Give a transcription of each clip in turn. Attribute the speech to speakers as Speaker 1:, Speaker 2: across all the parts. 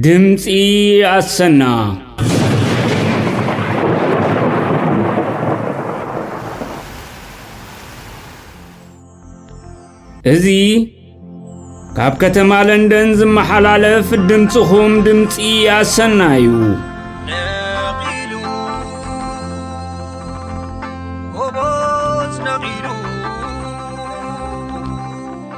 Speaker 1: ድምፂ ኣሰና እዚ ካብ ከተማ ለንደን ዝመሓላለፍ ድምፅኹም ድምፂ ኣሰና እዩ ነቒሉ ጎቦዝ ነቒሉ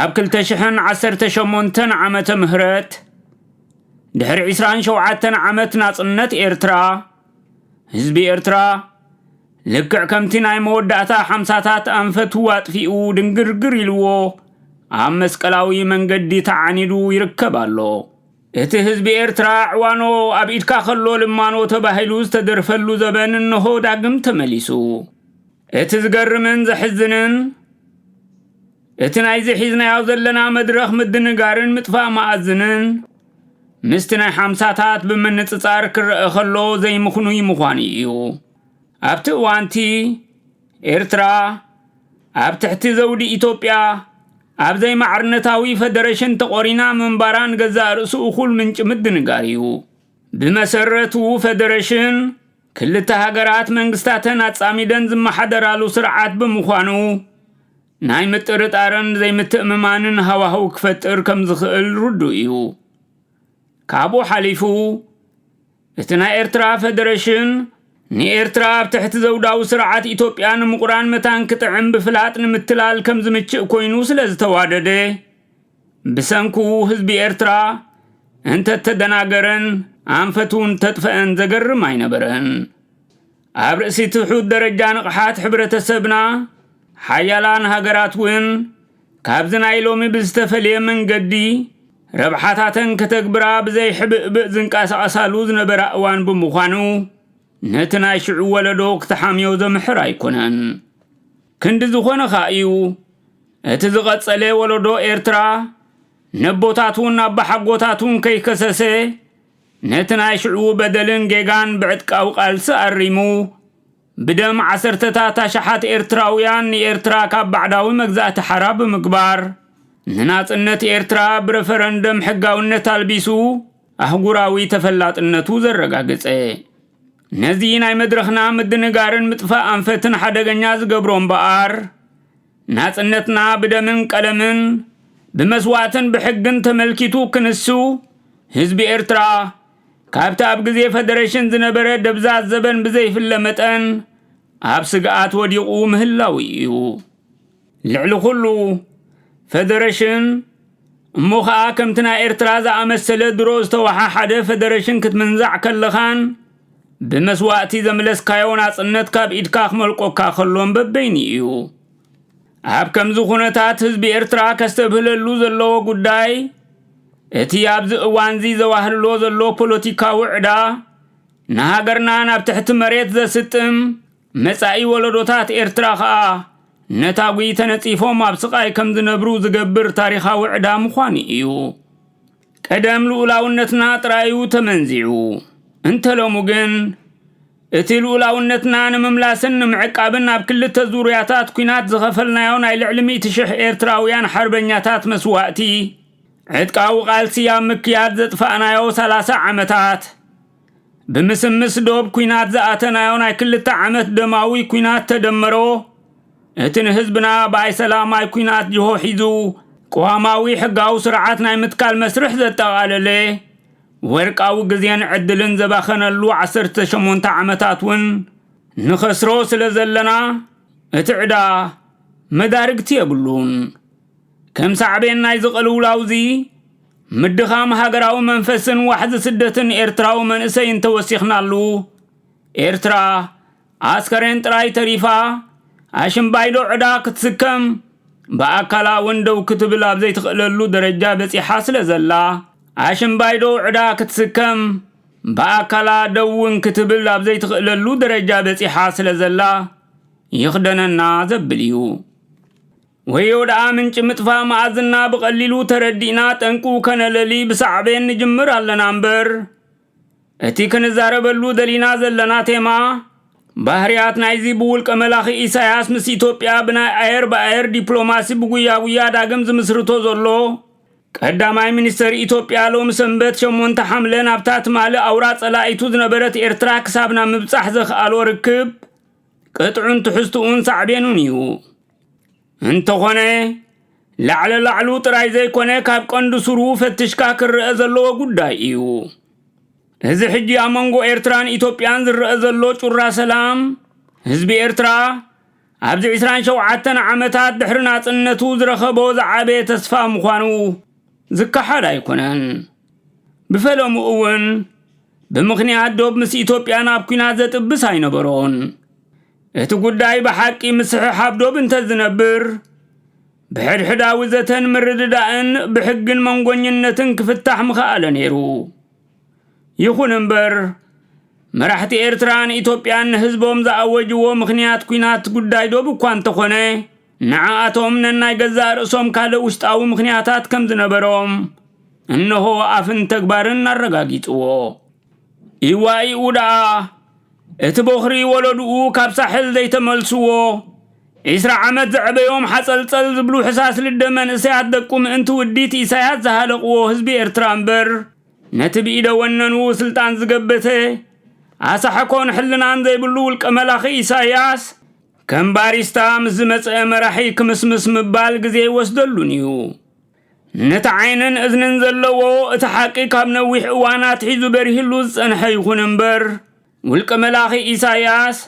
Speaker 1: ኣብ ክልተ ሽሕን ዓሰርተ ሸሞንተን ዓመተ ምህረት ድሕሪ ዕስራን ሸውዓተን ዓመት ናጽነት ኤርትራ ህዝቢ ኤርትራ ልክዕ ከምቲ ናይ መወዳእታ ሓምሳታት ኣንፈቱ ኣጥፊኡ ድንግርግር ኢልዎ ኣብ መስቀላዊ መንገዲ ተዓኒዱ ይርከብ ኣሎ እቲ ህዝቢ ኤርትራ ዕዋኖ ኣብ ኢድካ ከሎ ልማኖ ተባሂሉ ዝተደርፈሉ ዘበን እነሆ ዳግም ተመሊሱ እቲ ዝገርምን ዘሕዝንን እቲ ናይዚ ሒዝናዮ ዘለና መድረኽ ምድንጋርን ምጥፋእ መኣዝንን ምስቲ ናይ ሓምሳታት ብምንጽጻር ክረአ ከሎ ዘይምኽኑይ ምዃኑ እዩ። ኣብቲ እዋንቲ ኤርትራ ኣብ ትሕቲ ዘውዲ ኢትዮጵያ ኣብ ዘይማዕርነታዊ ፈደረሽን ተቖሪና ምንባራን ገዛእ ርእሱ እኹል ምንጪ ምድንጋር እዩ። ብመሰረቱ ፈደረሽን ክልተ ሃገራት መንግስታተን ኣጻሚደን ዝመሓደራሉ ስርዓት ብምዃኑ ናይ ምጥርጣርን ዘይምትእምማንን ሃዋህው ክፈጥር ከም ዝኽእል ርዱእ እዩ። ካብኡ ሓሊፉ እቲ ናይ ኤርትራ ፈደረሽን ንኤርትራ ኣብ ትሕቲ ዘውዳዊ ስርዓት ኢትዮጵያ ንምቑራን መታን ክጥዕም ብፍላጥ ንምትላል ከም ዝምችእ ኮይኑ ስለ ዝተዋደደ ብሰንኩ ህዝቢ ኤርትራ እንተተደናገረን ኣንፈቱ እንተጥፈአን ዘገርም ኣይነበረን። ኣብ ርእሲ ትሑት ደረጃ ንቕሓት ሕብረተሰብና ሓያላን ሃገራት እውን ካብዚ ናይ ሎሚ ብዝተፈልየ መንገዲ ረብሓታተን ከተግብራ ብዘይሕብእብእ ዝንቀሳቐሳሉ ዝነበራ እዋን ብምዃኑ ነቲ ናይ ሽዑ ወለዶ ክተሓምዮ ዘምሕር ኣይኮነን። ክንዲ ዝኾነ ኸኣ እዩ እቲ ዝቐጸለ ወለዶ ኤርትራ ነቦታቱን ኣባሓጎታቱን ከይከሰሰ ነቲ ናይ ሽዑ በደልን ጌጋን ብዕጥቃዊ ቃልሲ ኣሪሙ ብደም ዓሰርተታት ኣሽሓት ኤርትራውያን ንኤርትራ ካብ ባዕዳዊ መግዛእቲ ሓራ ብምግባር ንናጽነት ኤርትራ ብረፈረንደም ሕጋውነት ኣልቢሱ ኣህጉራዊ ተፈላጥነቱ ዘረጋገጸ ነዚ ናይ መድረኽና ምድንጋርን ምጥፋእ ኣንፈትን ሓደገኛ ዝገብሮ እምበኣር ናጽነትና ብደምን ቀለምን ብመስዋእትን ብሕግን ተመልኪቱ ክንሱ ህዝቢ ኤርትራ ካብቲ ኣብ ግዜ ፈደረሽን ዝነበረ ደብዛዝ ዘበን ብዘይፍለ መጠን ኣብ ስግኣት ወዲቑ ምህላው እዩ። ልዕሊ ኩሉ ፈደረሽን እሞ ኸኣ ከምቲ ናይ ኤርትራ ዝኣመሰለ ድሮ ዝተወሓሓደ ፈደረሽን ክትምንዛዕ ከለኻን ብመስዋእቲ ዘምለስካዮ ናጽነት ካብ ኢድካ ክመልቆካ ከሎን በበይኑ እዩ። ኣብ ከምዚ ኩነታት ህዝቢ ኤርትራ ከስተብህለሉ ዘለዎ ጉዳይ እቲ ኣብዚ እዋንዚ ዘዋህልሎ ዘሎ ፖለቲካዊ ዕዳ ንሃገርና ናብ ትሕቲ መሬት ዘስጥም መጻኢ ወለዶታት ኤርትራ ከኣ ነታጒ ተነጺፎም ኣብ ስቓይ ከም ዝነብሩ ዝገብር ታሪኻዊ ዕዳ ምዃኑ እዩ። ቀደም ልኡላውነትና ጥራዩ ተመንዚዑ፣ እንተ ሎሚ ግን እቲ ልኡላውነትና ንምምላስን ንምዕቃብን ኣብ ክልተ ዙርያታት ኩናት ዝኸፈልናዮ ናይ ልዕሊ ሚእቲ ሽሕ ኤርትራውያን ሓርበኛታት መስዋእቲ ዕጥቃዊ ቃልሲ ኣብ ምክያድ ዘጥፋእናዮ ሰላሳ ዓመታት ብምስምስ ዶብ ኩናት ዝኣተናዮ ናይ ክልተ ዓመት ደማዊ ኩናት ተደመሮ እቲ ንህዝብና ብኣይ ሰላማይ ኩናት ጅሆ ሒዙ ቅዋማዊ ሕጋዊ ስርዓት ናይ ምትካል መስርሕ ዘጠቓለለ ወርቃዊ ግዜን ዕድልን ዘባኸነሉ 18 ዓመታት እውን ንኸስሮ ስለ ዘለና እቲ ዕዳ መዳርግቲ የብሉን። ከም ሳዕቤን ናይዚ ቅልውላውዚ ምድኻም ሃገራዊ መንፈስን ዋሕዚ ስደትን ኤርትራዊ መንእሰይ እንተወሲኽናሉ ኤርትራ ኣስከሬን ጥራይ ተሪፋ ኣሽምባይዶ ዕዳ ክትስከም ብኣካላ እውን ደው ክትብል ኣብ ዘይትኽእለሉ ደረጃ በጺሓ ስለ ዘላ ኣሽምባይዶ ዕዳ ክትስከም ብኣካላ ደው እውን ክትብል ኣብ ዘይትኽእለሉ ደረጃ በጺሓ ስለ ዘላ ይኽደነና ዘብል እዩ። ወዮ ደኣ ምንጪ ምጥፋእ መኣዝና ብቐሊሉ ተረዲእና ጠንቁ ከነለሊ ብሳዕቤን ንጅምር ኣለና እምበር እቲ ክንዛረበሉ ደሊና ዘለና ቴማ ባህርያት ናይዚ ብውልቀ መላኺ ኢሳያስ ምስ ኢትዮጵያ ብናይ ኣየር ብኣየር ዲፕሎማሲ ብጉያ ጉያ ዳግም ዝምስርቶ ዘሎ ቀዳማይ ሚኒስተር ኢትዮጵያ ሎሚ ሰንበት ሸሞንተ ሓምለ ናብታ ትማሊ ኣውራ ጸላኢቱ ዝነበረት ኤርትራ ክሳብና ምብጻሕ ዘኽኣሎ ርክብ ቅጥዑን ትሕዝትኡን ሳዕቤኑን እዩ። እንተኾነ ላዕለ ላዕሉ ጥራይ ዘይኮነ ካብ ቀንዲ ሱሩ ፈትሽካ ክረአ ዘለዎ ጉዳይ እዩ። እዚ ሕጂ ኣብ መንጎ ኤርትራን ኢትዮጵያን ዝረአ ዘሎ ጩራ ሰላም ህዝቢ ኤርትራ ኣብዚ 27 ዓመታት ድሕሪ ናጽነቱ ዝረኸቦ ዝዓበየ ተስፋ ምዃኑ ዝከሓድ ኣይኮነን። ብፈለሙ እውን ብምኽንያት ዶብ ምስ ኢትዮጵያ ናብ ኩናት ዘጥብስ ኣይነበሮን። እቲ ጉዳይ ብሓቂ ምስሕሓብ ዶብ እንተዝነብር፣ ብሕድሕዳዊ ዘተን ምርድዳእን ብሕግን መንጎኝነትን ክፍታሕ ምኸኣለ ነይሩ። ይኹን እምበር መራሕቲ ኤርትራን ኢትዮጵያን ንህዝቦም ዝኣወጅዎ ምኽንያት ኩናት ጉዳይ ዶብ እኳ እንተኾነ ንዓኣቶም ነናይ ገዛእ ርእሶም ካልእ ውሽጣዊ ምኽንያታት ከም ዝነበሮም እነሆ ኣፍን ተግባርን ኣረጋጊጽዎ። ኢዋኢኡ ደኣ እቲ ቦኽሪ ወለድኡ ካብ ሳሕል ዘይተመልስዎ ዒስራ ዓመት ዘዕበዮም ሓጸልጸል ዝብሉ ሕሳስ ልደ መንእሰያት ደቁ ምእንቲ ውዲት ኢሳያስ ዝሃለቕዎ ህዝቢ ኤርትራ እምበር ነቲ ብኢደ ወነኑ ስልጣን ዝገበተ ኣሳሕኮን ሕልናን ዘይብሉ ውልቀ መላኺ ኢሳያስ ከም ባሪስታ ምስ ዝመጽአ መራሒ ክምስምስ ምባል ግዜ ኣይወስደሉን እዩ። ነቲ ዓይንን እዝንን ዘለዎ እቲ ሓቂ ካብ ነዊሕ እዋን ኣትሒዙ በሪህሉ ዝጸንሐ ይኹን እምበር ውልቀ መላኺ ኢሳያስ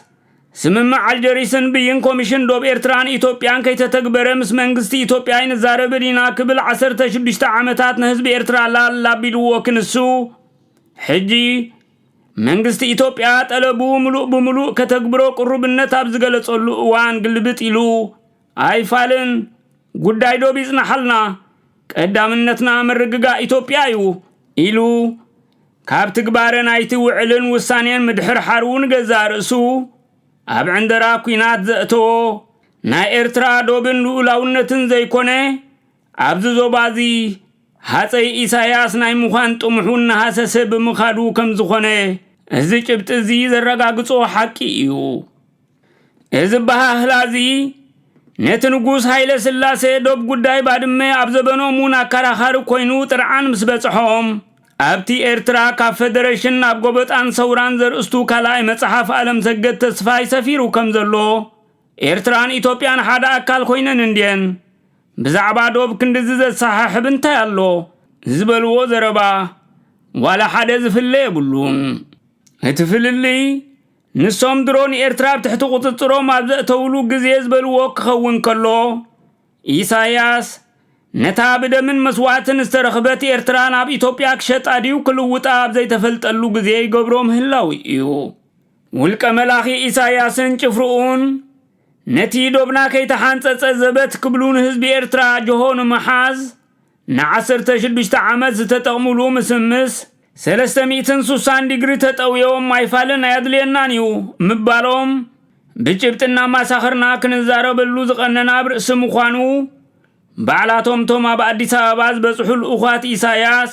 Speaker 1: ስምምዕ ኣልጀሪስን ብይን ኮሚሽን ዶብ ኤርትራን ኢትዮጵያን ከይተተግበረ ምስ መንግስቲ ኢትዮጵያ ኣይንዛረብን ኢና ክብል ዓሰርተ ሽዱሽተ ዓመታት ንህዝቢ ኤርትራ ላላ ኣቢልዎ ክንሱ ሕጂ መንግስቲ ኢትዮጵያ ጠለቡ ምሉእ ብምሉእ ከተግብሮ ቅሩብነት ኣብ ዝገለጸሉ እዋን ግልብጥ ኢሉ ኣይፋልን፣ ጉዳይ ዶብ ይፅናሓልና፣ ቀዳምነትና ምርግጋእ ኢትዮጵያ እዩ ኢሉ ካብ ትግባረ ናይቲ ውዕልን ውሳኔን ምድሕርሓሩ ንገዛእ ርእሱ ኣብ ዕንደራ ኲናት ዘእተዎ ናይ ኤርትራ ዶብን ልኡላውነትን ዘይኮነ ኣብዚ ዞባ እዚ ሃጸይ ኢሳያስ ናይ ምዃን ጥሙሑ እናሃሰሰ ብምኻዱ ከም ዝኾነ እዚ ጭብጢ እዚ ዘረጋግጾ ሓቂ እዩ። እዚ ኣበሃህላ እዚ ነቲ ንጉስ ሃይለ ስላሴ ዶብ ጉዳይ ባድመ ኣብ ዘበኖም እውን ኣከራኻሪ ኮይኑ ጥርዓን ምስ በጽሖም ኣብቲ ኤርትራ ካብ ፈደረሽን ናብ ጎበጣን ሰውራን ዘርእስቱ ካልኣይ መጽሓፍ ኣለምሰገድ ተስፋይ ሰፊሩ ከም ዘሎ ኤርትራን ኢትዮጵያን ሓደ ኣካል ኮይነን እንድየን ብዛዕባ ዶብ ክንድዚ ዘሰሓሕብ እንታይ ኣሎ ዝበልዎ ዘረባ ዋላ ሓደ ዝፍለ የብሉን። እቲ ፍልልይ ንሶም ድሮ ንኤርትራ ኣብ ትሕቲ ቁጽጽሮም ኣብ ዘእተውሉ ግዜ ዝበልዎ ክኸውን ከሎ ኢሳያስ ነታ ብደምን መስዋእትን ዝተረኽበት ኤርትራ ናብ ኢትዮጵያ ክሸጣ ድዩ ክልውጣ ኣብ ዘይተፈልጠሉ ግዜ ይገብሮ ምህላው እዩ። ውልቀ መላኺ ኢሳያስን ጭፍርኡን ነቲ ዶብና ከይተሓንጸጸ ዘበት ክብሉ ንህዝቢ ኤርትራ ጅሆ ንምሓዝ ንዓሰርተ ሽዱሽተ ዓመት ዝተጠቕሙሉ ምስምስ ሰለስተ ሚእትን ሱሳን ዲግሪ ተጠውዮም ኣይፋልን ኣየድልየናን እዩ ምባሎም ብጭብጢ እናማሳኸርና ክንዛረበሉ ዝቐነና ኣብ ርእሲ ምዃኑ ባዕላቶም እቶም ኣብ ኣዲስ ኣበባ ዝበጽሑ ልኡዃት ኢሳያስ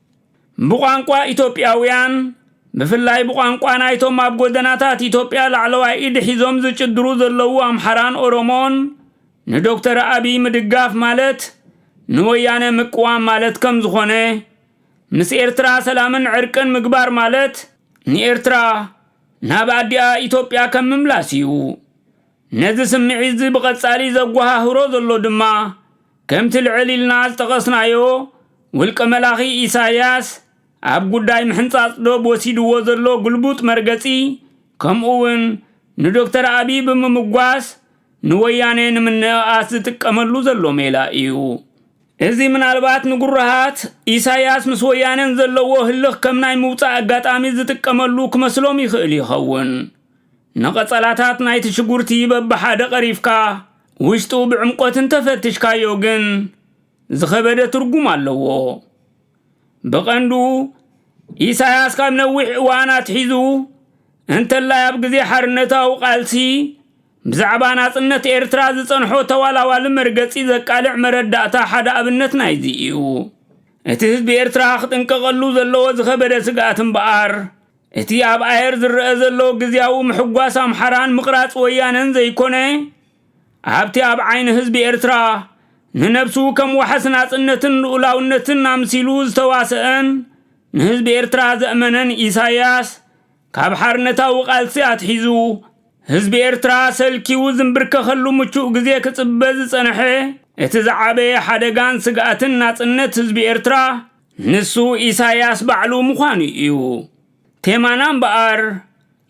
Speaker 1: ብቋንቋ ኢትዮጵያውያን ብፍላይ ብቋንቋ ናይቶም ኣብ ጎደናታት ኢትዮጵያ ላዕለዋይ ኢድ ሒዞም ዝጭድሩ ዘለዉ ኣምሓራን ኦሮሞን ንዶክተር ኣቢይ ምድጋፍ ማለት ንወያነ ምቅዋም ማለት ከም ዝኾነ ምስ ኤርትራ ሰላምን ዕርቅን ምግባር ማለት ንኤርትራ ናብ ኣዲኣ ኢትዮጵያ ከም ምምላስ እዩ ነዚ ስምዒትዚ ብቐጻሊ ዘጓሃህሮ ዘሎ ድማ፣ ከምቲ ልዕል ኢልና ዝጠቐስናዮ፣ ውልቀ መላኺ ኢሳያስ ኣብ ጉዳይ ምሕንጻጽ ዶብ ወሲድዎ ዘሎ ግልቡጥ መርገጺ፣ ከምኡውን ንዶክተር ኣቢይ ብምምጓስ ንወያኔ ንምንእኣስ ዝጥቀመሉ ዘሎ ሜላ ኢዩ። እዚ ምናልባት ንግሩሃት፣ ኢሳያስ ምስ ወያኔን ዘለዎ ህልኽ ከም ናይ ምውጻእ ኣጋጣሚ ዝጥቀመሉ ክመስሎም ይኽእል ይኸውን። ንቐጸላታት ናይቲ ሽጉርቲ በብሓደ ቐሪፍካ ውሽጡ ብዕምቆት እንተፈትሽካዮ ግን ዝኸበደ ትርጉም ኣለዎ። ብቐንዱ ኢሳያስ ካብ ነዊሕ እዋን ኣትሒዙ እንተላይ ኣብ ግዜ ሓርነታዊ ቃልሲ ብዛዕባ ናጽነት ኤርትራ ዝጸንሖ ተዋላዋሊ መርገጺ ዘቃልዕ መረዳእታ ሓደ ኣብነት ናይዚ እዩ። እቲ ህዝቢ ኤርትራ ክጥንቀቐሉ ዘለዎ ዝኸበደ ስግኣት እምበኣር እቲ ኣብ ኣየር ዝረኣ ዘሎ ግዝያዊ ምሕጓስ ኣምሓራን ምቕራጽ ወያነን ዘይኮነ፣ ኣብቲ ኣብ ዓይኒ ህዝቢ ኤርትራ፣ ንነብሱ ከም ዋሕስ ናጽነትን ልኡላውነትን ኣምሲሉ ዝተዋሰኣን ንህዝቢ ኤርትራ ዘእመነን ኢሳያስ፣ ካብ ሓርነታዊ ቃልሲ ኣትሒዙ፣ ህዝቢ ኤርትራ ሰልኪዉ ዝምብርከኸሉ ምቹእ ግዜ ክጽበ ዝጸነሐ እቲ ዝዓበየ ሓደጋን ስግኣትን ናጽነት ህዝቢ ኤርትራ፣ ንሱ ኢሳያስ ባዕሉ ምዃኑ እዩ። ቴማና እምበኣር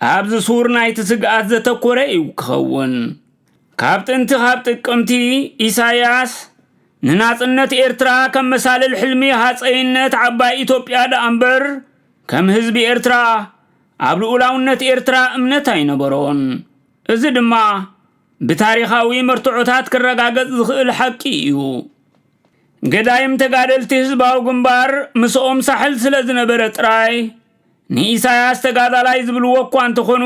Speaker 1: ኣብዚ ሱር ናይቲ ስግኣት ዘተኮረ እዩ ክኸውን። ካብ ጥንቲ ካብ ጥቅምቲ ኢሳያስ ንናጽነት ኤርትራ ከም መሳልል ሕልሚ ሃጸይነት ዓባይ ኢትዮጵያ ደኣ እምበር ከም ህዝቢ ኤርትራ ኣብ ልኡላውነት ኤርትራ እምነት ኣይነበሮን። እዚ ድማ ብታሪኻዊ መርትዖታት ክረጋገጽ ዝኽእል ሓቂ እዩ። ገዳይም ተጋደልቲ ህዝባዊ ግንባር ምስኦም ሳሕል ስለ ዝነበረ ጥራይ ንኢሳያስ ተጋዳላይ ዝብልዎ እኳ እንተኾኑ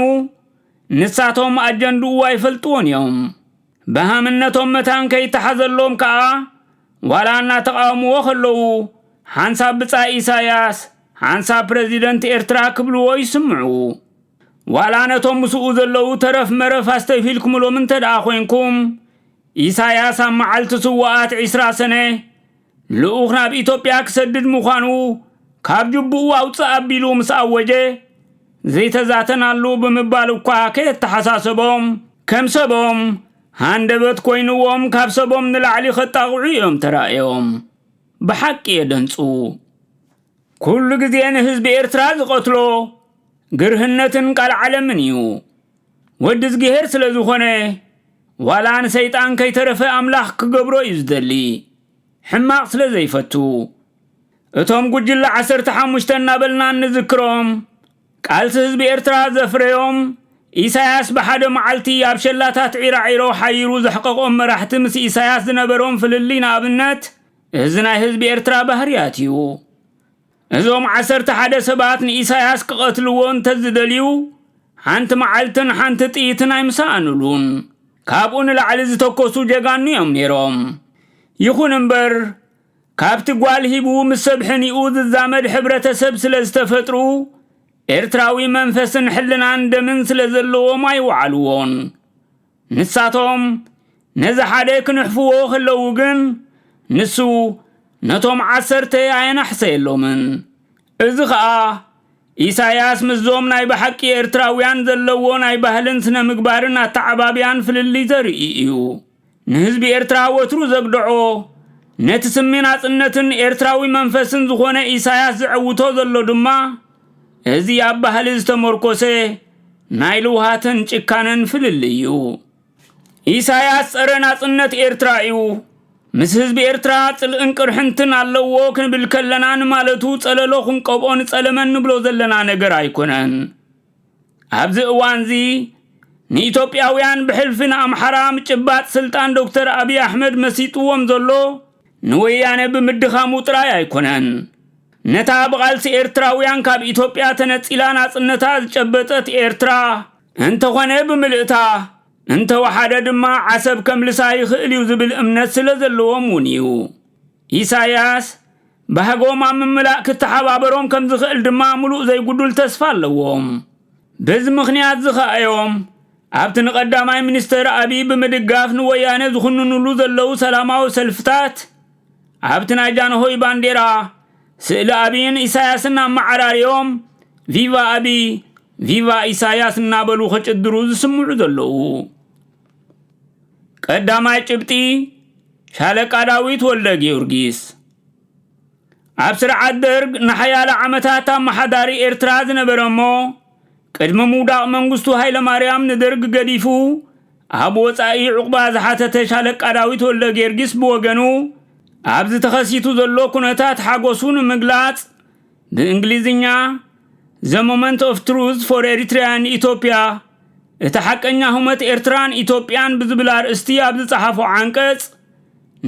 Speaker 1: ንሳቶም ኣጀንድኡ ኣይፈልጥዎን እዮም። ብሃምነቶም መታን ከይተሓዘሎም ከኣ ዋላ እናተቓወምዎ ከለዉ ሓንሳብ ብጻይ ኢሳያስ ሓንሳብ ፕረዚደንት ኤርትራ ክብልዎ ይስምዑ። ዋላ ነቶም ምስኡ ዘለዉ ተረፍ መረፍ ኣስተብሂልኩምሎም እንተ ደኣ ኾይንኩም ኢሳያስ ኣብ መዓልቲ ስዉኣት ዒስራ ሰነ ልኡኽ ናብ ኢትዮጵያ ክሰድድ ምዃኑ ካብ ጅቡኡ ኣውጽእ ኣቢሉ ምስ ኣወጀ ዘይተዛተናሉ ብምባል እኳ ከየተሓሳሰቦም ከም ሰቦም ሃንደበት ኮይንዎም ካብ ሰቦም ንላዕሊ ከጣቕዑ እዮም ተራእዮም። ብሓቂ የደንጹ። ኩሉ ግዜ ንህዝቢ ኤርትራ ዝቐትሎ ግርህነትን ቃልዓለምን እዩ። ወዲ እዝግሄር ስለ ዝኾነ ዋላ ንሰይጣን ከይተረፈ ኣምላኽ ክገብሮ እዩ ዝደሊ ሕማቕ ስለ ዘይፈቱ እቶም ጉጅለ ዓሰርተ ሓሙሽተ እናበልና እንዝክሮም ቃልሲ ህዝቢ ኤርትራ ዘፍረዮም ኢሳያስ ብሓደ መዓልቲ ኣብ ሸላታት ዒራዒሮ ሓይሩ ዘሕቀቖም መራሕቲ ምስ ኢሳያስ ዝነበሮም ፍልልይ ንኣብነት እዚ ናይ ህዝቢ ኤርትራ ባህርያት እዩ እዞም ዓሰርተ ሓደ ሰባት ንኢሳያስ ክቐትልዎ እንተዝደልዩ ሓንቲ መዓልትን ሓንቲ ጥይትን ኣይምሰኣንሉን። ካብኡ ንላዕሊ ዝተኮሱ ጀጋኑ እዮም ነይሮም። ይኹን እምበር ካብቲ ጓል ሂቡ ምስ ሰብ ሕኒኡ ዝዛመድ ሕብረተሰብ ስለ ዝተፈጥሩ ኤርትራዊ መንፈስን ሕልናን ደምን ስለ ዘለዎም ኣይወዓልዎን። ንሳቶም ነዚ ሓደ ክንሕፍዎ ከለዉ ግን ንሱ ነቶም ዓሰርተ ኣየናሕሰየሎምን። እዚ ኸኣ ኢሳያስ ምስዞም ናይ ብሓቂ ኤርትራውያን ዘለዎ ናይ ባህልን ስነ ምግባርን ኣተዓባብያን ፍልልይ ዘርኢ እዩ። ንህዝቢ ኤርትራ ወትሩ ዘግደዖ ነቲ ስሚ ናጽነትን ኤርትራዊ መንፈስን ዝኾነ ኢሳያስ ዘዐውቶ ዘሎ ድማ፣ እዚ ኣብ ባህሊ ዝተመርኮሰ ናይ ልውሃትን ጭካነን ፍልልይ እዩ። ኢሳያስ ጸረ ናጽነት ኤርትራ እዩ። ምስ ህዝቢ ኤርትራ ጽልእን ቅርሕንትን ኣለዎ ክንብል ከለና ንማለቱ ጸለሎ ክንቀብኦ ንጸለመ ንብሎ ዘለና ነገር ኣይኮነን። ኣብዚ እዋንዚ ንኢትዮጵያውያን ብሕልፊ ንኣምሓራ ምጭባጥ ስልጣን ዶክተር ኣብይ ኣሕመድ መሲጥዎም ዘሎ ንወያነ ብምድኻሙ ጥራይ ኣይኮነን። ነታ ብቓልሲ ኤርትራውያን ካብ ኢትዮጵያ ተነጺላ ናጽነታ ዝጨበጠት ኤርትራ እንተኾነ ብምልእታ እንተወሓደ ድማ ዓሰብ ከምልሳ ይኽእል እዩ ዝብል እምነት ስለዘለዎም እውን እዩ። ኢሳያስ ባህጎም ኣብ ምምላእ ክተሓባበሮም ከም ዝኽእል ድማ ምሉእ ዘይጉዱል ተስፋ ኣለዎም። በዚ ምኽንያት'ዚ ከኣ'ዮም ኣብቲ ንቀዳማይ ሚኒስተር ኣቢይ ብምድጋፍ ንወያነ ዝኹንንሉ ዘለዉ ሰላማዊ ሰልፍታት ኣብቲ ናይ ጃንሆይ ባንዴራ ስእሊ ኣቢይን ኢሳያስን ኣመዓራርዮም ቪቫ ኣቢይ ቪቫ ኢሳያስ እናበሉ ከጭድሩ ዝስምዑ ዘለዉ። ቀዳማይ ጭብጢ ሻለቃ ዳዊት ወልደ ጊዮርጊስ ኣብ ስርዓት ደርግ ንሓያለ ዓመታት ኣመሓዳሪ ኤርትራ ዝነበረ እሞ ቅድሚ ምውዳቕ መንግስቱ ሃይለማርያም ንደርግ ገዲፉ ኣብ ወፃኢ ዕቑባ ዝሓተተ ሻለቃ ዳዊት ወልደ ጊዮርጊስ ብወገኑ ኣብዚ ተኸሲቱ ዘሎ ኩነታት ሓጎሱ ንምግላፅ ብእንግሊዝኛ ዘ ሞመንት ኦፍ ትሩዝ ፎር ኤሪትሪያን ኢትዮጵያ እቲ ሓቀኛ ህሞት ኤርትራን ኢትዮጵያን ብዝብል ኣርእስቲ ኣብ ዝጸሓፎ ዓንቀጽ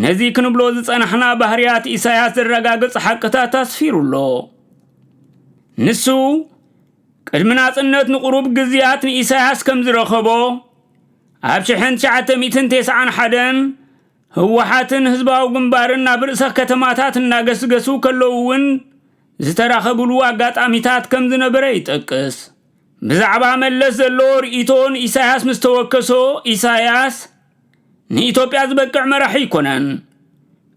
Speaker 1: ነዚ ክንብሎ ዝጸናሕና ባህርያት ኢሳያስ ዘረጋግጽ ሓቅታት ኣስፊሩ ኣሎ። ንሱ ቅድሚ ናጽነት ንቑሩብ ግዝያት ንኢሳያስ ከም ዝረኸቦ ኣብ 1991 ህወሓትን ህዝባዊ ግንባርን ናብ ርእሰ ከተማታት እናገስገሱ ከለዉ እውን ዝተራኸብሉ ኣጋጣሚታት ከም ዝነበረ ይጠቅስ። ብዛዕባ መለስ ዘለዎ ርእይቶ ንኢሳያስ ምስ ተወከሶ ኢሳያስ ንኢትዮጵያ ዝበቅዕ መራሒ ኣይኮነን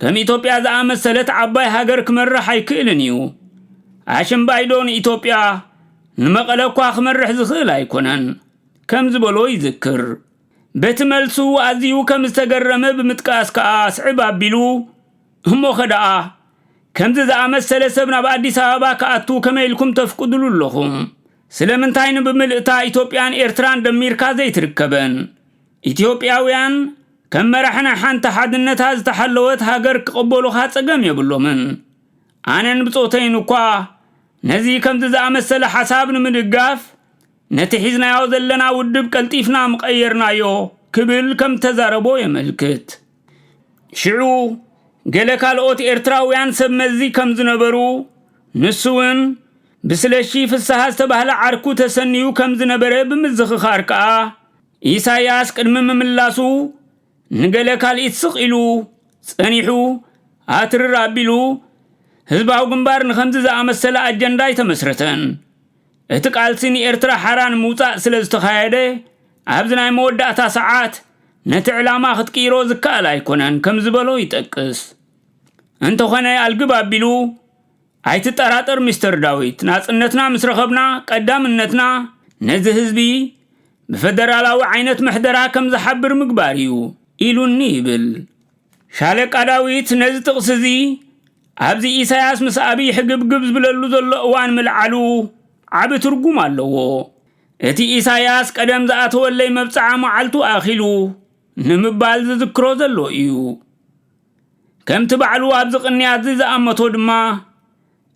Speaker 1: ከም ኢትዮጵያ ዝኣመሰለት ዓባይ ሃገር ክመርሕ ኣይክእልን እዩ ኣሽምባይዶ ንኢትዮጵያ ንመቐለ እኳ ክመርሕ ዝኽእል ኣይኮነን ከም ዝበሎ ይዝክር በቲ መልሱ ኣዝዩ ከም ዝተገረመ ብምጥቃስ ከኣ ስዕብ ኣቢሉ፣ እሞኸ ደኣ ከምዚ ዝኣመሰለ ሰብ ናብ ኣዲስ ኣበባ ክኣቱ ከመይ ኢልኩም ተፍቅድሉ ኣለኹም? ስለምንታይ ንብምልእታ ኢትዮጵያን ኤርትራን ደሚርካ ዘይትርከበን? ኢትዮጵያውያን ከም መራሒ ናይ ሓንቲ ሓድነታ ዝተሓለወት ሃገር ክቕበሉኻ ጸገም የብሎምን። ኣነን ብጾተይን እኳ ነዚ ከምዚ ዝኣመሰለ ሓሳብ ንምድጋፍ ነቲ ሒዝናዮ ዘለና ውድብ ቀልጢፍና ምቐየርናዮ ክብል ከም ተዛረቦ የመልክት። ሽዑ ገለ ካልኦት ኤርትራውያን ሰብ መዚ ከም ዝነበሩ፣ ንሱውን ብስለሺ ፍስሃ ዝተባህለ ዓርኩ ተሰንዩ ከም ዝነበረ ብምዝኽኻር ከኣ፣ ኢሳያስ ቅድሚ ምምላሱ ንገለ ካልኢት ስቕ ኢሉ ጸኒሑ ኣትርር ኣቢሉ ህዝባዊ ግንባር ንኸምዚ ዝኣመሰለ ኣጀንዳ ኣይተመስረተን። እቲ ቃልሲ ንኤርትራ ሓራ ንምውጻእ ስለ ዝተኻየደ፣ ኣብዚ ናይ መወዳእታ ሰዓት ነቲ ዕላማ ክትቅይሮ ዝከኣል ኣይኮነን ከም ዝበሎ ይጠቅስ። እንተኾነ ኣልግብ ኣቢሉ ኣይትጠራጠር ሚስተር ዳዊት፣ ናጽነትና ምስ ረኸብና ቀዳምነትና ነዚ ህዝቢ ብፈደራላዊ ዓይነት ምሕደራ ከም ዝሓብር ምግባር እዩ ኢሉኒ ይብል። ሻለቃ ዳዊት ነዚ ጥቕሲ እዚ ኣብዚ ኢሳያስ ምስ ኣብይ ሕግብግብ ዝብለሉ ዘሎ እዋን ምልዓሉ ዓቢ ትርጉም ኣለዎ። እቲ ኢሳያስ ቀደም ዝኣተወለይ መብጽዓ መዓልቱ ኣኺሉ ንምባል ዝዝክሮ ዘሎ እዩ። ከምቲ ባዕሉ ኣብዚ ቅንያትዚ ዝኣመቶ ድማ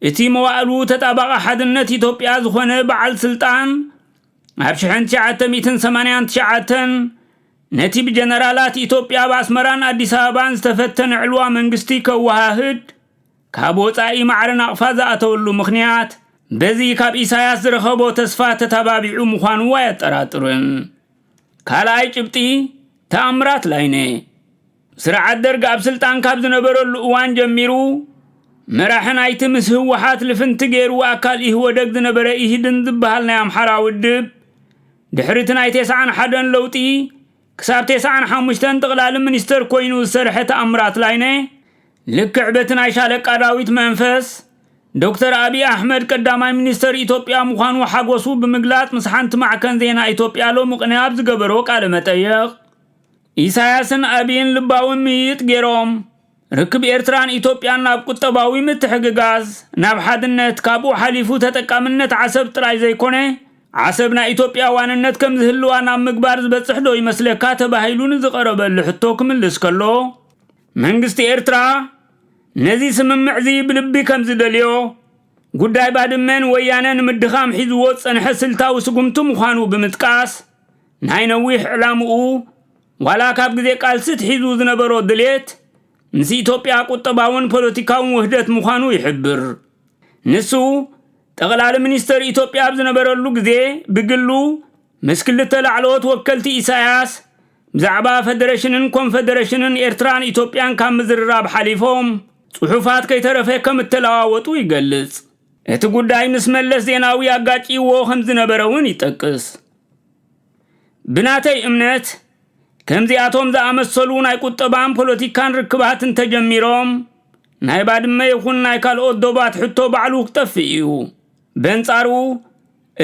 Speaker 1: እቲ መዋእሉ ተጣባቒ ሓድነት ኢትዮጵያ ዝኾነ በዓል ስልጣን ኣብ ሽሕን ትሽዓተ ሚእትን ሰማንያን ትሽዓተን ነቲ ብጀነራላት ኢትዮጵያ ኣብ ኣስመራን ኣዲስ ኣበባን ዝተፈተነ ዕልዋ መንግስቲ ከወሃህድ ካብ ወፃኢ ማዕረ ናቕፋ ዝኣተወሉ ምኽንያት በዚ ካብ ኢሳያስ ዝረኸቦ ተስፋ ተታባቢዑ ምዃኑ ኣየጠራጥርን። ካልኣይ ጭብጢ ተኣምራት ላይነ ስርዓት ደርግ ኣብ ስልጣን ካብ ዝነበረሉ እዋን ጀሚሩ መራሒ ናይቲ ምስ ህወሓት ልፍንቲ ገይሩ ኣካል ኢህወደግ ዝነበረ ኢህድን ዝበሃል ናይ ኣምሓራ ውድብ ድሕሪ እቲ ናይ ቴስዓን ሓደን ለውጢ ክሳብ ቴስዓን ሓሙሽተን ጥቕላሊ ሚኒስተር ኮይኑ ዝሰርሐ ተኣምራት ላይነ ልክዕ በቲ ናይ ሻለቃ ዳዊት መንፈስ ዶክተር ኣብዪ ኣሕመድ ቀዳማይ ሚኒስተር ኢትዮጵያ ምዃኑ ሓጎሱ ብምግላጽ ምስ ሓንቲ ማዕከን ዜና ኢትዮጵያ ሎሚ ቅነ ኣብ ዝገበሮ ቃለ መጠየቕ ኢሳያስን ኣቢይን ልባዊ ምይይጥ ገይሮም፣ ርክብ ኤርትራን ኢትዮጵያን ናብ ቁጠባዊ ምትሕግጋዝ፣ ናብ ሓድነት፣ ካብኡ ሓሊፉ ተጠቃምነት ዓሰብ ጥራይ ዘይኮነ፣ ዓሰብ ናይ ኢትዮጵያ ዋንነት ከም ዝህልዋ ናብ ምግባር ዝበጽሕዶ ይመስለካ ተባሂሉ ንዝቐረበሉ ሕቶ ክምልስ ከሎ፣ መንግስቲ ኤርትራ ነዚ ስምምዕ'ዚ ብልቢ ከም ዝደልዮ፣ ጉዳይ ባድመ ንወያነ ንምድኻም ሒዝዎ ዝጸንሐ ስልታዊ ስጉምቲ ምዃኑ ብምጥቃስ፣ ናይ ነዊሕ ዕላምኡ ዋላ ካብ ግዜ ቃልሲ ትሒዙ ዝነበሮ ድሌት ምስ ኢትዮጵያ ቁጠባውን ፖለቲካውን ውህደት ምዃኑ ይሕብር። ንሱ ጠቕላሊ ሚኒስተር ኢትዮጵያ ኣብ ዝነበረሉ ግዜ ብግሉ ምስ ክልተ ላዕለዎት ወከልቲ ኢሳያስ ብዛዕባ ፈደረሽንን ኮንፈደረሽንን ኤርትራን ኢትዮጵያን ካብ ምዝርራብ ሓሊፎም ጽሑፋት ከይተረፈ ከም እተለዋወጡ ይገልጽ። እቲ ጉዳይ ምስ መለስ ዜናዊ ኣጋጭይዎ ከም ዝነበረ'ውን ይጠቅስ። ብናተይ እምነት ከምዚኣቶም ዝኣመሰሉ ናይ ቁጠባን ፖለቲካን ርክባት እንተጀሚሮም ናይ ባድመ ይኹን ናይ ካልኦት ዶባት ሕቶ ባዕሉ ክጠፍእ እዩ። በንጻሩ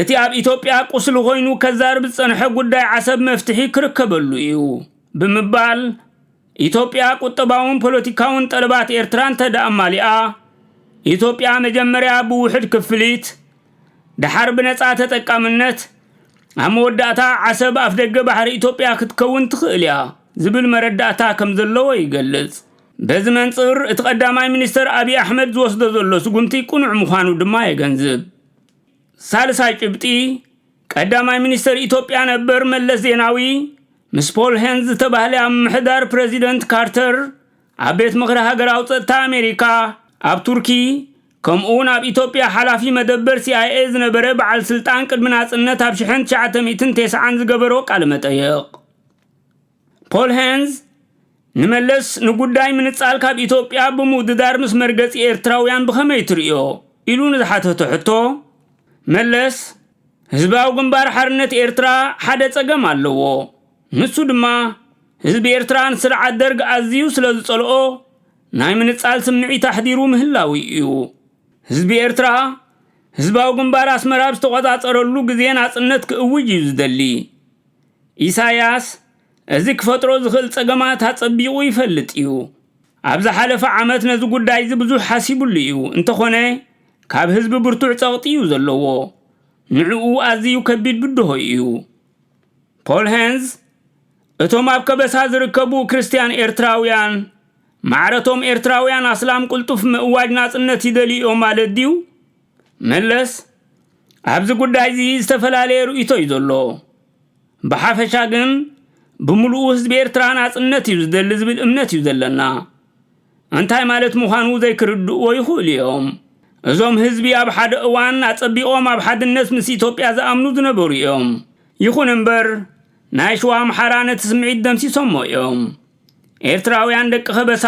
Speaker 1: እቲ ኣብ ኢትዮጵያ ቁስሊ ኮይኑ ከዛርብ ዝጸንሐ ጉዳይ ዓሰብ መፍትሒ ክርከበሉ እዩ ብምባል ኢትዮጵያ ቁጠባውን ፖለቲካውን ጠለባት ኤርትራ እንተደኣ ኣማሊኣ ኢትዮጵያ መጀመርያ ብውሕድ ክፍሊት ደሓር ብነጻ ተጠቃምነት ኣብ መወዳእታ ዓሰብ ኣፍደገ ባሕሪ ኢትዮጵያ ክትከውን ትኽእል እያ ዝብል መረዳእታ ከም ዘለዎ ይገልጽ። በዚ መንጽር እቲ ቀዳማይ ሚኒስተር ኣብዪ ኣሕመድ ዝወስዶ ዘሎ ስጉምቲ ቅኑዕ ምዃኑ ድማ የገንዝብ። ሳልሳይ ጭብጢ፣ ቀዳማይ ሚኒስተር ኢትዮጵያ ነበር መለስ ዜናዊ ምስ ፖል ሄንዝ ዝተባህለ ኣብ ምምሕዳር ፕረዚደንት ካርተር ኣብ ቤት ምኽሪ ሃገራዊ ጸጥታ ኣሜሪካ ኣብ ቱርኪ ከምኡ'ውን ኣብ ኢትዮጵያ ሓላፊ መደበር ሲኣይኤ ዝነበረ በዓል ስልጣን ቅድሚ ናጽነት ኣብ ሽሕን ትሽዓተ ሚእትን ቴስዓን ዝገበሮ ቃለ መጠይቕ ፖል ሄንዝ ንመለስ ንጉዳይ ምንጻል ካብ ኢትዮጵያ ብምውድዳር ምስ መርገጺ ኤርትራውያን ብኸመይ ትርእዮ ኢሉ ንዝሓተቶ ሕቶ መለስ ህዝባዊ ግንባር ሓርነት ኤርትራ ሓደ ጸገም ኣለዎ ንሱ ድማ ህዝቢ ኤርትራ ንስርዓት ደርግ ኣዝዩ ስለ ዝጸልኦ ናይ ምንጻል ስምዒት ኣሕዲሩ ምህላዉ እዩ። ህዝቢ ኤርትራ፣ ህዝባዊ ግንባር ኣስመራ ኣብ ዝተቖጻጸረሉ ግዜ ናጽነት ክእውጅ እዩ ዝደሊ። ኢሳያስ እዚ ክፈጥሮ ዝኽእል ጸገማት ኣጸቢቑ ይፈልጥ እዩ። ኣብ ዝሓለፈ ዓመት ነዚ ጉዳይዚ ብዙሕ ሓሲቡሉ እዩ፣ እንተኾነ ካብ ህዝቢ ብርቱዕ ጸቕጢ እዩ ዘለዎ። ንዕኡ ኣዚዩ ከቢድ ብድሆ እዩ። ፖል ሄንዝ እቶም ኣብ ከበሳ ዝርከቡ ክርስትያን ኤርትራውያን፣ ማዕረ'ቶም ኤርትራውያን ኣስላም ቅልጡፍ ምእዋጅ ናጽነት ይደልዩ'ዮም ማለት ድዩ? መለስ፣ ኣብዚ ጉዳይ'ዚ ዝተፈላለየ ርእይቶ'ዩ ዘሎ። ብሓፈሻ ግን ብምሉኡ ህዝቢ ኤርትራ ናጽነት'ዩ ዝደሊ ዝብል እምነት'ዩ ዘለና። እንታይ ማለት ምዃኑ ዘይክርድእዎ ይኽእሉ'ዮም። እዞም ህዝቢ ኣብ ሓደ እዋን ኣጸቢቖም ኣብ ሓድነት ምስ ኢትዮጵያ ዝኣምኑ ዝነበሩ'ዮም። ይኹን'ምበር፣ ናይ ሽዋ ኣምሓራ ነቲ ስምዒት ደምሲሶሞ እዮም። ኤርትራውያን ደቂ ከበሳ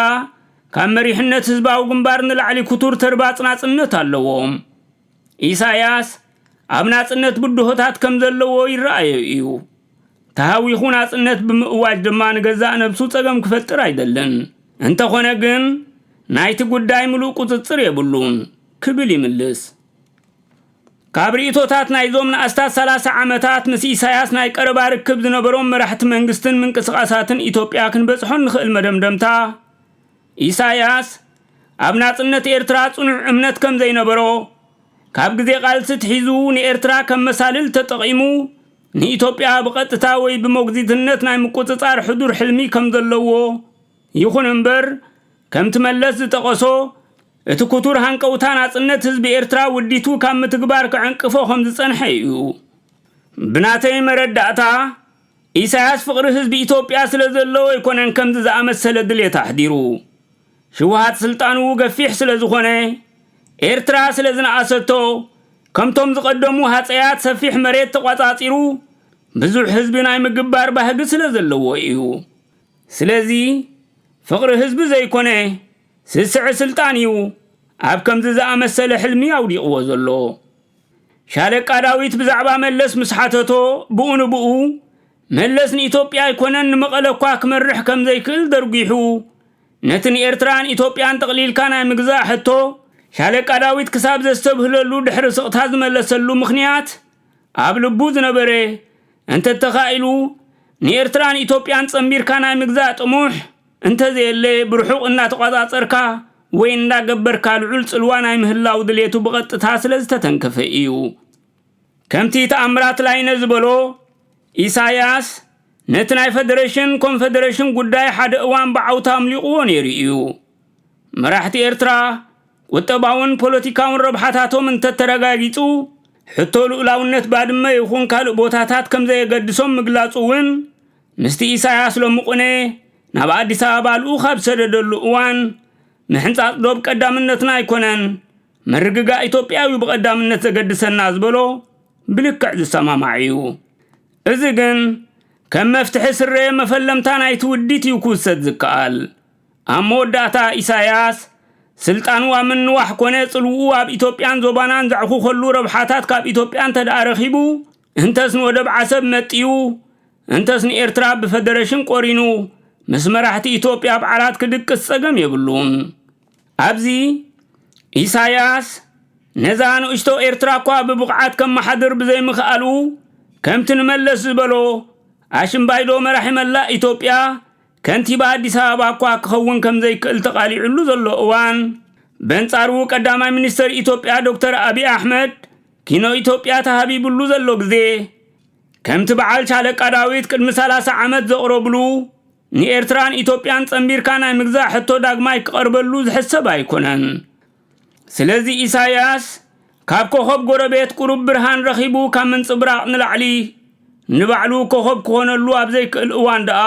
Speaker 1: ካብ መሪሕነት ህዝባዊ ግንባር ንላዕሊ ክቱር ተርባጽ ናጽነት ኣለዎም። ኢሳያስ ኣብ ናጽነት ብድሆታት ከም ዘለዎ ይረኣዮ እዩ። ተሃዊኹ ናጽነት ብምእዋጅ ድማ ንገዛእ ነብሱ ጸገም ክፈጥር ኣይደልን። እንተኾነ ግን ናይቲ ጉዳይ ምሉእ ቁጽጽር የብሉን ክብል ይምልስ። ካብ ርእይቶታት ናይዞም ንኣስታት ሰላሳ ዓመታት ምስ ኢሳያስ ናይ ቀረባ ርክብ ዝነበሮም መራሕቲ መንግስትን ምንቅስቓሳትን ኢትዮጵያ ክንበጽሖ እንኽእል መደምደምታ፣ ኢሳያስ ኣብ ናጽነት ኤርትራ ጽኑዕ እምነት ከም ዘይነበሮ፣ ካብ ግዜ ቃልሲ ኣትሒዙ ንኤርትራ ከም መሳልል ተጠቒሙ ንኢትዮጵያ ብቐጥታ ወይ ብሞግዚትነት ናይ ምቁጽጻር ሕዱር ሕልሚ ከም ዘለዎ፣ ይኹን እምበር ከምቲ መለስ ዝጠቐሶ፣ እቲ ክቱር ሃንቀውታ ናጽነት ህዝቢ ኤርትራ ውዲቱ ካብ ምትግባር ክዕንቅፎ ከም ዝጸንሐ እዩ። ብናተይ መረዳእታ፣ ኢሳያስ ፍቕሪ ህዝቢ ኢትዮጵያ ስለ ዘለዎ ኣይኮነን ከምዚ ዝኣመሰለ ድሌት ኣሕዲሩ። ህወሓት ስልጣኑ ገፊሕ ስለ ዝኾነ፣ ኤርትራ ስለ ዝነኣሰቶ፣ ከምቶም ዝቐደሙ ሃጸያት ሰፊሕ መሬት ተቋጻጺሩ ብዙሕ ህዝቢ ናይ ምግባር ባህጊ ስለ ዘለዎ እዩ። ስለዚ ፍቕሪ ህዝቢ ዘይኮነ ስስዐ ስልጣን እዩ ኣብ ከምዚ ዝኣመሰለ ሕልሚ ኣውዲቕዎ ዘሎ። ሻለቃ ዳዊት ብዛዕባ መለስ ምስ ሓተቶ ብኡ ንብኡ መለስ ንኢትዮጵያ ኣይኮነን ንመቐለ እኳ ክመርሕ ከም ዘይክእል ደርጒሑ ነቲ ንኤርትራን ኢትዮጵያን ጠቕሊልካ ናይ ምግዛእ ሕቶ ሻለቃ ዳዊት ክሳብ ዘስተብህለሉ ድሕሪ ስቕታ ዝመለሰሉ ምኽንያት ኣብ ልቡ ዝነበረ እንተተኻኢሉ ንኤርትራን ኢትዮጵያን ጸንቢርካ ናይ ምግዛእ ጥሙሕ እንተዘየለ ብርሑቕ እናተቖጻጸርካ ወይ እንዳገበርካ ልዑል ጽልዋ ናይ ምህላው ድሌቱ ብቐጥታ ስለ ዝተተንከፈ ኢዩ። ከምቲ ተኣምራት ላይነ ዝበሎ፣ ኢሳያስ ነቲ ናይ ፈደረሽን ኮንፈደረሽን ጉዳይ ሓደ እዋን ብዓውታ ኣምሊቑዎ ነይሩ ኢዩ። መራሕቲ ኤርትራ ቁጠባውን ፖለቲካውን ረብሓታቶም እንተተረጋጊጹ ሕቶ ልኡላውነት ባድመ ይኹን ካልእ ቦታታት ከም ዘየገድሶም ምግላጹ እውን ምስቲ ኢሳያስ ሎምቕነ ናብ ኣዲስ ኣበባ ልኡኽ ኣብ ዝሰደደሉ እዋን ምሕንጻጽ ዶብ ቀዳምነትና ኣይኮነን፣ ምርግጋእ ኢትዮጵያ'ዩ ብቐዳምነት ዘገድሰና ዝበሎ ብልክዕ ዝሰማማዕ'ዩ። እዚ ግን ከም መፍትሒ ዝስረየ መፈለምታ ናይቲ ውዲት'ዩ ክውሰድ ዝከኣል። ኣብ መወዳእታ ኢሳያስ ስልጣኑ ኣብ ምንዋሕ ኮነ ጽልውኡ ኣብ ኢትዮጵያን ዞባናን ዘዕኹኸሉ ረብሓታት ካብ ኢትዮጵያ እንተደኣ ረኺቡ፣ እንተስ ንወደብ ዓሰብ መጥዩ፣ እንተስ ንኤርትራ ብፈደረሽን ቆሪኑ ምስ መራሕቲ ኢትዮጵያ ኣብ ዓራት ክድቅስ ጸገም የብሉን። ኣብዚ ኢሳያስ ነዛ ንእሽቶ ኤርትራ እኳ ብብቕዓት ከመሓድር ብዘይምኽኣሉ ከምቲ ንመለስ ዝበሎ ኣሽምባይዶ መራሒ መላእ ኢትዮጵያ ከንቲባ ኣዲስ ኣበባ እኳ ክኸውን ከምዘይክእል ተቓሊዑሉ ዘሎ እዋን፣ በንጻሩ ቀዳማይ ሚኒስተር ኢትዮጵያ ዶክተር ኣቢይ ኣሕመድ ኪኖ ኢትዮጵያ ተሃቢብሉ ዘሎ ግዜ፣ ከምቲ በዓል ሻለቃ ዳዊት ቅድሚ ሰላሳ ዓመት ዘቕረብሉ፣ ንኤርትራን ኢትዮጵያን ጸንቢርካ ናይ ምግዛእ ሕቶ ዳግማይ ክቐርበሉ ዝሕሰብ ኣይኮነን። ስለዚ ኢሳይያስ ካብ ኮኾብ ጎረቤት ቁሩብ ብርሃን ረኺቡ ካብ ምንጽብራቕ ንላዕሊ ንባዕሉ ኮኾብ ክኾነሉ ኣብ ዘይክእል እዋን ደኣ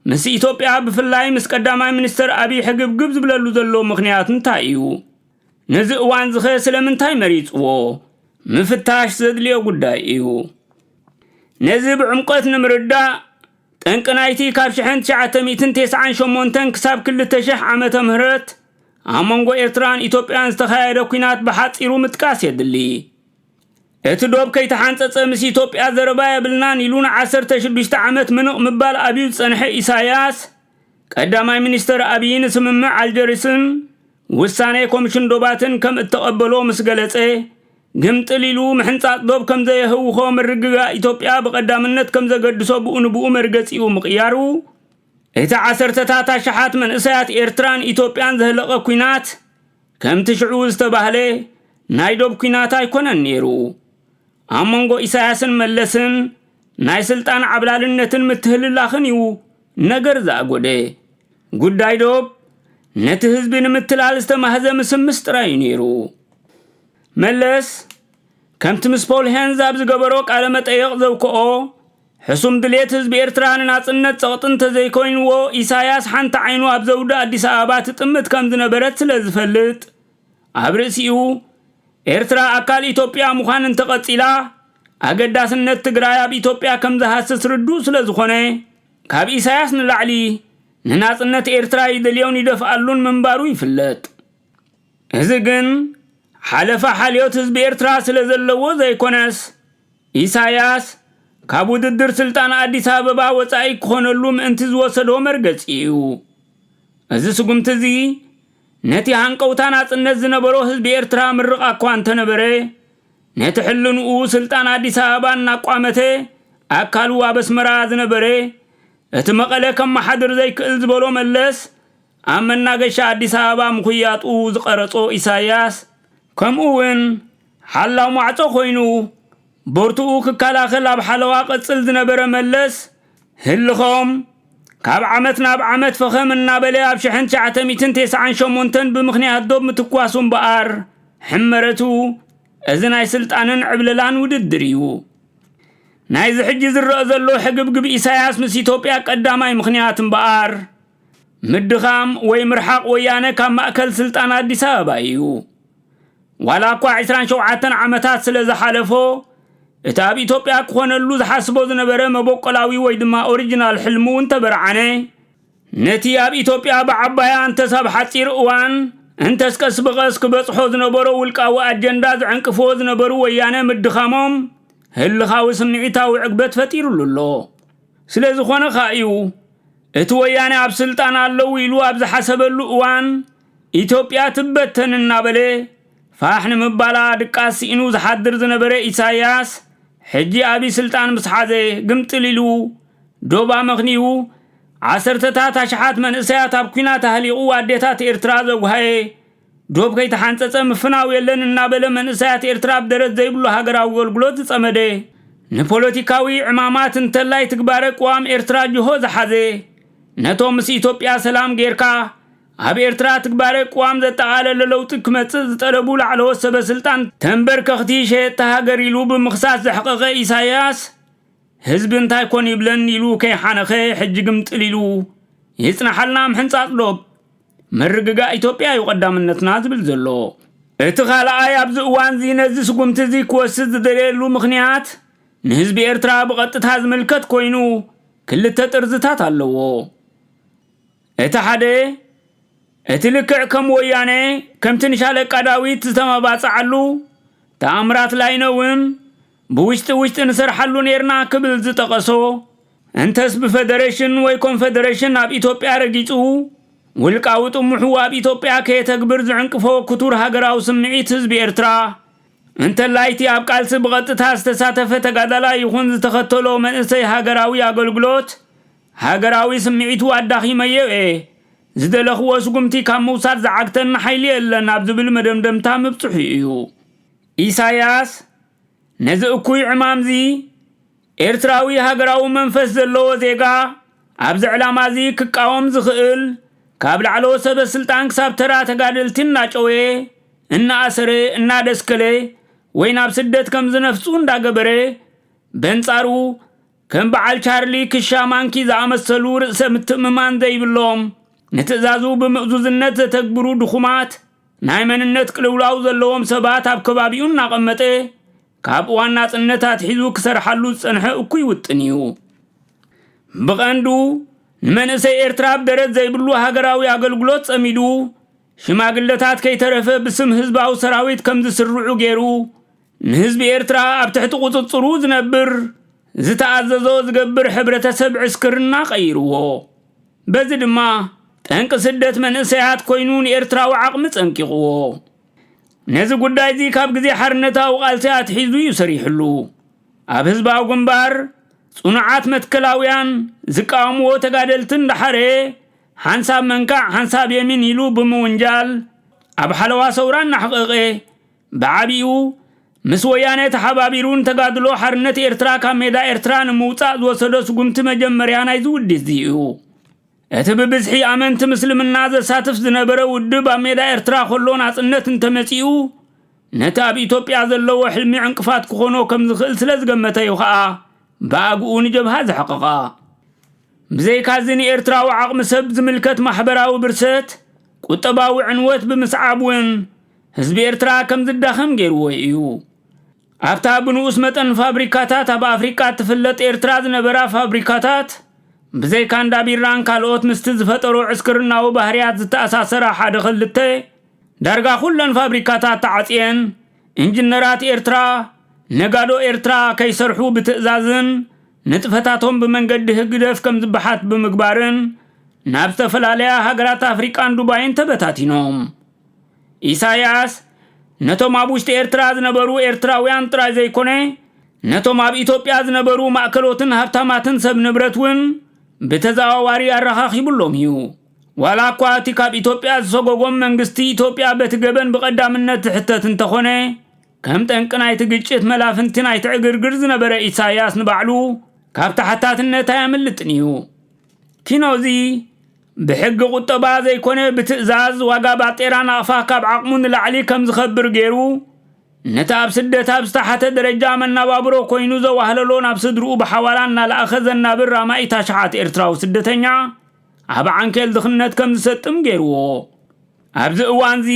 Speaker 1: ምስ ኢትዮጵያ ብፍላይ ምስ ቀዳማይ ሚኒስተር ኣቢይ ሕግብግብ ዝብለሉ ዘሎ ምኽንያት እንታይ እዩ? ነዚ እዋንዚኸ ስለምንታይ መሪጽዎ? ምፍታሽ ዘድልዮ ጉዳይ እዩ። ነዚ ብዕምቆት ንምርዳእ ጠንቂ ናይቲ ካብ ሽሕን ትሽዓተ ሚእትን ቴስዓን ሸሞንተን ክሳብ ክልተ ሽሕ ዓመተ ምህረት ኣብ መንጎ ኤርትራን ኢትዮጵያን ዝተኻየደ ኩናት ብሓጺሩ ምጥቃስ የድሊ። እቲ ዶብ ከይተሓንጸጸ ምስ ኢትዮጵያ ዘረባ የብልናን ኢሉ ንዓሰርተ ሽዱሽተ ዓመት ምንቕ ምባል ኣብዩ ዝጸንሐ ኢሳያስ፣ ቀዳማይ ሚኒስተር ኣብዪ ንስምምዕ ኣልጀሪስን ውሳኔ ኮምሽን ዶባትን ከም እተቐበሎ ምስ ገለጸ፣ ግምጥል ኢሉ ምሕንጻጽ ዶብ ከም ዘየህውኾ ምርግጋእ ኢትዮጵያ ብቐዳምነት ከም ዘገድሶ ብኡ ንብኡ መርገጺኡ ምቕያሩ፣ እቲ ዓሰርተታት ኣሽሓት መንእሰያት ኤርትራን ኢትዮጵያን ዘህለቐ ኲናት ከምቲ ሽዑ ዝተባህለ ናይ ዶብ ኲናት ኣይኮነን ነይሩ። ኣብ መንጎ ኢሳያስን መለስን ናይ ስልጣን ዓብላልነትን ምትህልላኽን እዩ ነገር ዝኣጎደ። ጉዳይ ዶብ ነቲ ህዝቢ ንምትላል ዝተማህዘ ምስምስ ጥራይ እዩ ነይሩ። መለስ ከምቲ ምስ ፖል ሄንዝ ኣብ ዝገበሮ ቃለ መጠየቕ ዘውክኦ ሕሱም ድሌት ህዝቢ ኤርትራ ንናጽነት ጸቕጢ እንተዘይኮይንዎ፣ ኢሳያስ ሓንቲ ዓይኑ ኣብ ዘውዲ ኣዲስ ኣበባ ትጥምት ከም ዝነበረት ስለ ዝፈልጥ፣ ኣብ ርእሲኡ፣ ኤርትራ ኣካል ኢትዮጵያ ምዃን እንተቐጺላ፣ ኣገዳስነት ትግራይ ኣብ ኢትዮጵያ ከም ዝሃስስ ርዱእ ስለ ዝኾነ፣ ካብ ኢሳያስ ንላዕሊ ንናጽነት ኤርትራ ይደልዮን ይደፍኣሉን ምንባሩ ይፍለጥ። እዚ ግን ሓለፋ ሓልዮት ህዝቢ ኤርትራ ስለዘለዎ ዘይኮነስ፣ ኢሳያስ ካብ ውድድር ስልጣን ኣዲስ ኣበባ ወጻኢ ክኾነሉ ምእንቲ ዝወሰዶ መርገጺ እዩ። እዚ ስጉምቲ'ዚ ነቲ ሃንቀውታ ናጽነት ዝነበሮ ህዝቢ ኤርትራ ምርቓ'ኳ እንተነበረ፣ ነቲ ሕልንኡ ስልጣን ኣዲስ ኣበባ እናቋመተ ኣካሉ ኣብ ኣስመራ ዝነበረ እቲ መቐለ ከመሓድር ዘይክእል ዝበሎ መለስ ኣብ መናገሻ ኣዲስ ኣበባ ምኹያጡ ዝቐረጾ ኢሳይያስ፣ ከምኡ'ውን ሓላው ማዕጾ ኮይኑ ቦርትኡ ክከላኸል ኣብ ሓለዋ ቀጽል ዝነበረ መለስ፣ ህልኾም ካብ ዓመት ናብ ዓመት ፈኸም እናበለ ኣብ ሽሕን ትሽዓተ ሚእትን ቴስዓን ሸሞንተን ብምኽንያት ዶብ ምትኳሱ እምበኣር ሕመረቱ እዚ ናይ ስልጣንን ዕብለላን ውድድር እዩ። ናይዚ ሕጂ ዝረኣ ዘሎ ሕግብግብ ኢሳይያስ ምስ ኢትዮጵያ ቀዳማይ ምኽንያት እምበኣር፣ ምድኻም ወይ ምርሓቕ ወያነ ካብ ማእከል ስልጣን ኣዲስ ኣበባ እዩ። ዋላ እኳ 27 ዓመታት ስለ ዝሓለፎ እቲ ኣብ ኢትዮጵያ ክኾነሉ ዝሓስቦ ዝነበረ መበቆላዊ ወይ ድማ ኦሪጂናል ሕልሙ እንተበርዓነ ነቲ ኣብ ኢትዮጵያ ብዓባያ እንተስ ኣብ ሓጺር እዋን እንተስ ቀስ ብቐስ ክበጽሖ ዝነበሮ ውልቃዊ ኣጀንዳ ዝዕንቅፍዎ ዝነበሩ ወያነ ምድኻሞም ህልኻዊ ስምዒታዊ ዕግበት ፈጢሩሉ ኣሎ። ስለዝኾነ ከኣ እዩ እቲ ወያነ ኣብ ስልጣን ኣለዉ ኢሉ ኣብ ዝሓሰበሉ እዋን ኢትዮጵያ ትበተን እናበለ ፋሕ ንምባላ ድቃስ ስኢኑ ዝሓድር ዝነበረ ኢሳይያስ ሕጂ ኣብይ ስልጣን ምስ ሓዘ ግምጥል ኢሉ ዶብ ኣመኽንዩ ዓሰርተታት ኣሽሓት መንእሰያት ኣብ ኲናት ኣህሊቑ ኣዴታት ኤርትራ ዘጉሃየ ዶብ ከይተሓንፀፀ ምፍናው የለን እናበለ መንእሰያት ኤርትራ ኣብ ደረት ዘይብሉ ሃገራዊ ኣገልግሎት ዝፀመደ፣ ንፖለቲካዊ ዕማማት እንተላይ ትግባረ ቅዋም ኤርትራ ጅሆ ዝሓዘ፣ ነቶም ምስ ኢትዮጵያ ሰላም ገይርካ፣ ኣብ ኤርትራ ትግባረ ቅዋም ዘጠቓለለ ለውጢ ክመፅእ ዝጠለቡ ላዕለዎት ሰበ ስልጣን ተንበርከኽቲ ሸየጥቲ ሃገር ኢሉ ብምኽሳስ ዘሕቐቐ ኢሳይያስ፣ ህዝቢ እንታይ ኮን ይብለን ኢሉ ከይሓነኸ ሕጂ ግምጥል ኢሉ ይፅናሓልና ምሕንፃፅ ዶብ። ምርግጋእ ኢትዮጵያ እዩ ቀዳምነትና ዝብል ዘሎ። እቲ ካልኣይ ኣብዚ እዋንዚ ነዚ ስጉምቲ እዚ ክወስድ ዝደለየሉ ምኽንያት ንህዝቢ ኤርትራ ብቐጥታ ዝምልከት ኮይኑ ክልተ ጥርዝታት ኣለዎ። እቲ ሓደ እቲ ልክዕ ከም ወያነ ከምቲ ንሻለቃ ዳዊት ዝተመባጽዓሉ ተኣምራት ላይነውን ብውሽጢ ውሽጢ ንሰርሓሉ ነይርና ክብል ዝጠቐሶ እንተስ ብፈደሬሽን ወይ ኮንፈደሬሽን ኣብ ኢትዮጵያ ረጊጹ ውልቃዊ ጥሙሑ ኣብ ኢትዮጵያ ከየተግብር ዝዕንቅፎ ክቱር ሃገራዊ ስምዒት ህዝቢ ኤርትራ እንተላይቲ ኣብ ቃልሲ ብቐጥታ ዝተሳተፈ ተጋዳላይ ይኹን ዝተኸተሎ መንእሰይ ሃገራዊ ኣገልግሎት ሃገራዊ ስምዒቱ ኣዳኺመዮ እየ ዝደለኽዎ ስጉምቲ ካብ ምውሳድ ዝዓግተኒ ሓይሊ የለን ኣብ ዝብል መደምደምታ ምብጽሑ እዩ። ኢሳያስ ነዚ እኩይ ዕማምዚ፣ ኤርትራዊ ሃገራዊ መንፈስ ዘለዎ ዜጋ ኣብዚ ዕላማዚ ክቃወም ዝኽእል ካብ ላዕለዎት ሰበ ስልጣን ክሳብ ተራ ተጋደልቲ እናጨወየ፣ እናኣሰረ፣ እናደስከለ ወይ ናብ ስደት ከምዝነፍጹ እንዳገበረ በንጻሩ ከም በዓል ቻርሊ ክሻ ማንኪ ዝኣመሰሉ ርእሰ ምትእምማን ዘይብሎም፣ ንትእዛዙ ብምእዙዝነት ዘተግብሩ ድኹማት፣ ናይ መንነት ቅልውላው ዘለዎም ሰባት ኣብ ከባቢኡ እናቐመጠ ካብ እዋን ናጽነት ኣትሒዙ ክሰርሓሉ ዝጸንሐ እኩይ ውጥን እዩ። ብቐንዱ ንመንእሰይ ኤርትራ ኣብ ደረት ዘይብሉ ሃገራዊ ኣገልግሎት ጸሚዱ ሽማግለታት ከይተረፈ ብስም ህዝባዊ ሰራዊት ከም ዝስርዑ ገይሩ ንህዝቢ ኤርትራ ኣብ ትሕቲ ቁጽጽሩ ዝነብር ዝተኣዘዞ ዝገብር ሕብረተሰብ ዕስክርና ቀይርዎ። በዚ ድማ ጠንቂ ስደት መንእሰያት ኮይኑ ንኤርትራዊ ዓቕሚ ጸንቂቕዎ። ነዚ ጉዳይዚ ካብ ግዜ ሓርነታዊ ቃልሲ ኣትሒዙ እዩ ሰሪሕሉ። ኣብ ህዝባዊ ግንባር ጽኑዓት መትከላውያን ዝቃወምዎ ተጋደልቲ እንዳሓረ ሓንሳብ መንካዕ ሓንሳብ የሚን ኢሉ ብምውንጃል ኣብ ሓለዋ ሰውራ እናሕቐቐ ብዓቢኡ ምስ ወያነ ተሓባቢሩ ንተጋድሎ ሓርነት ኤርትራ ካብ ሜዳ ኤርትራ ንምውጻእ ዝወሰዶ ስጉምቲ መጀመርያ ናይዚ ውዲትዚ እዩ። እቲ ብብዝሒ ኣመንቲ ምስልምና ዘሳትፍ ዝነበረ ውድብ ኣብ ሜዳ ኤርትራ ከሎ ናጽነት እንተመጺኡ ነቲ ኣብ ኢትዮጵያ ዘለዎ ሕልሚ ዕንቅፋት ክኾኖ ከም ዝኽእል ስለ ዝገመተ እዩ ኸኣ ብኣግኡ ንጀብሃ ዘሕቐቐ። ብዘይካዚ ንኤርትራዊ ዓቕሚ ሰብ ዝምልከት ማሕበራዊ ብርሰት፣ ቁጠባዊ ዕንወት ብምስዓብ ውን ህዝቢ ኤርትራ ከም ዝዳኸም ገይርዎ ኢዩ። ኣብታ ብንኡስ መጠን ፋብሪካታት ኣብ ኣፍሪቃ እትፍለጥ ኤርትራ ዝነበራ ፋብሪካታት ብዘይካ እንዳ ቢራን ካልኦት ምስቲ ዝፈጠሮ ዕስክርናዊ ባህርያት ዝተኣሳሰራ ሓደ ክልተ ዳርጋ ኩለን ፋብሪካታት ተዓጽየን ኢንጅነራት ኤርትራ ነጋዶ ኤርትራ ከይሰርሑ ብትእዛዝን ንጥፈታቶም ብመንገዲ ህግደፍ ከም ዝበሓት ብምግባርን ናብ ዝተፈላለያ ሃገራት ኣፍሪቃን ዱባይን ተበታቲኖም። ኢሳያስ ነቶም ኣብ ውሽጢ ኤርትራ ዝነበሩ ኤርትራውያን ጥራይ ዘይኮነ ነቶም ኣብ ኢትዮጵያ ዝነበሩ ማእከሎትን ሃብታማትን ሰብ ንብረት እውን ብተዘዋዋሪ ኣረኻኺቡሎም እዩ ዋላ እኳ እቲ ካብ ኢትዮጵያ ዝሰጎጎም መንግስቲ ኢትዮጵያ በቲ ገበን ብቐዳምነት ዝሕተት እንተኾነ ከም ጠንቂ ናይቲ ግጭት መላፍንቲ ናይቲ ዕግርግር ዝነበረ ኢሳያስ ንባዕሉ ካብ ተሓታትነት ኣየምልጥን እዩ ኪኖዚ ብሕጊ ቁጠባ ዘይኮነ ብትእዛዝ ዋጋ ባጤራ ናቕፋ ካብ ዓቕሙ ንላዕሊ ከም ዝኸብር ገይሩ ነቲ ኣብ ስደት ኣብ ዝተሓተ ደረጃ መናባብሮ ኮይኑ ዘዋህለሎ ናብ ስድርኡ ብሓዋላ እናለኣኸ ዘናብር ራማኢ ታሽሓት ኤርትራዊ ስደተኛ ኣብ ዓንኬል ድኽነት ከም ዝሰጥም ገይርዎ ኣብዚ እዋንዚ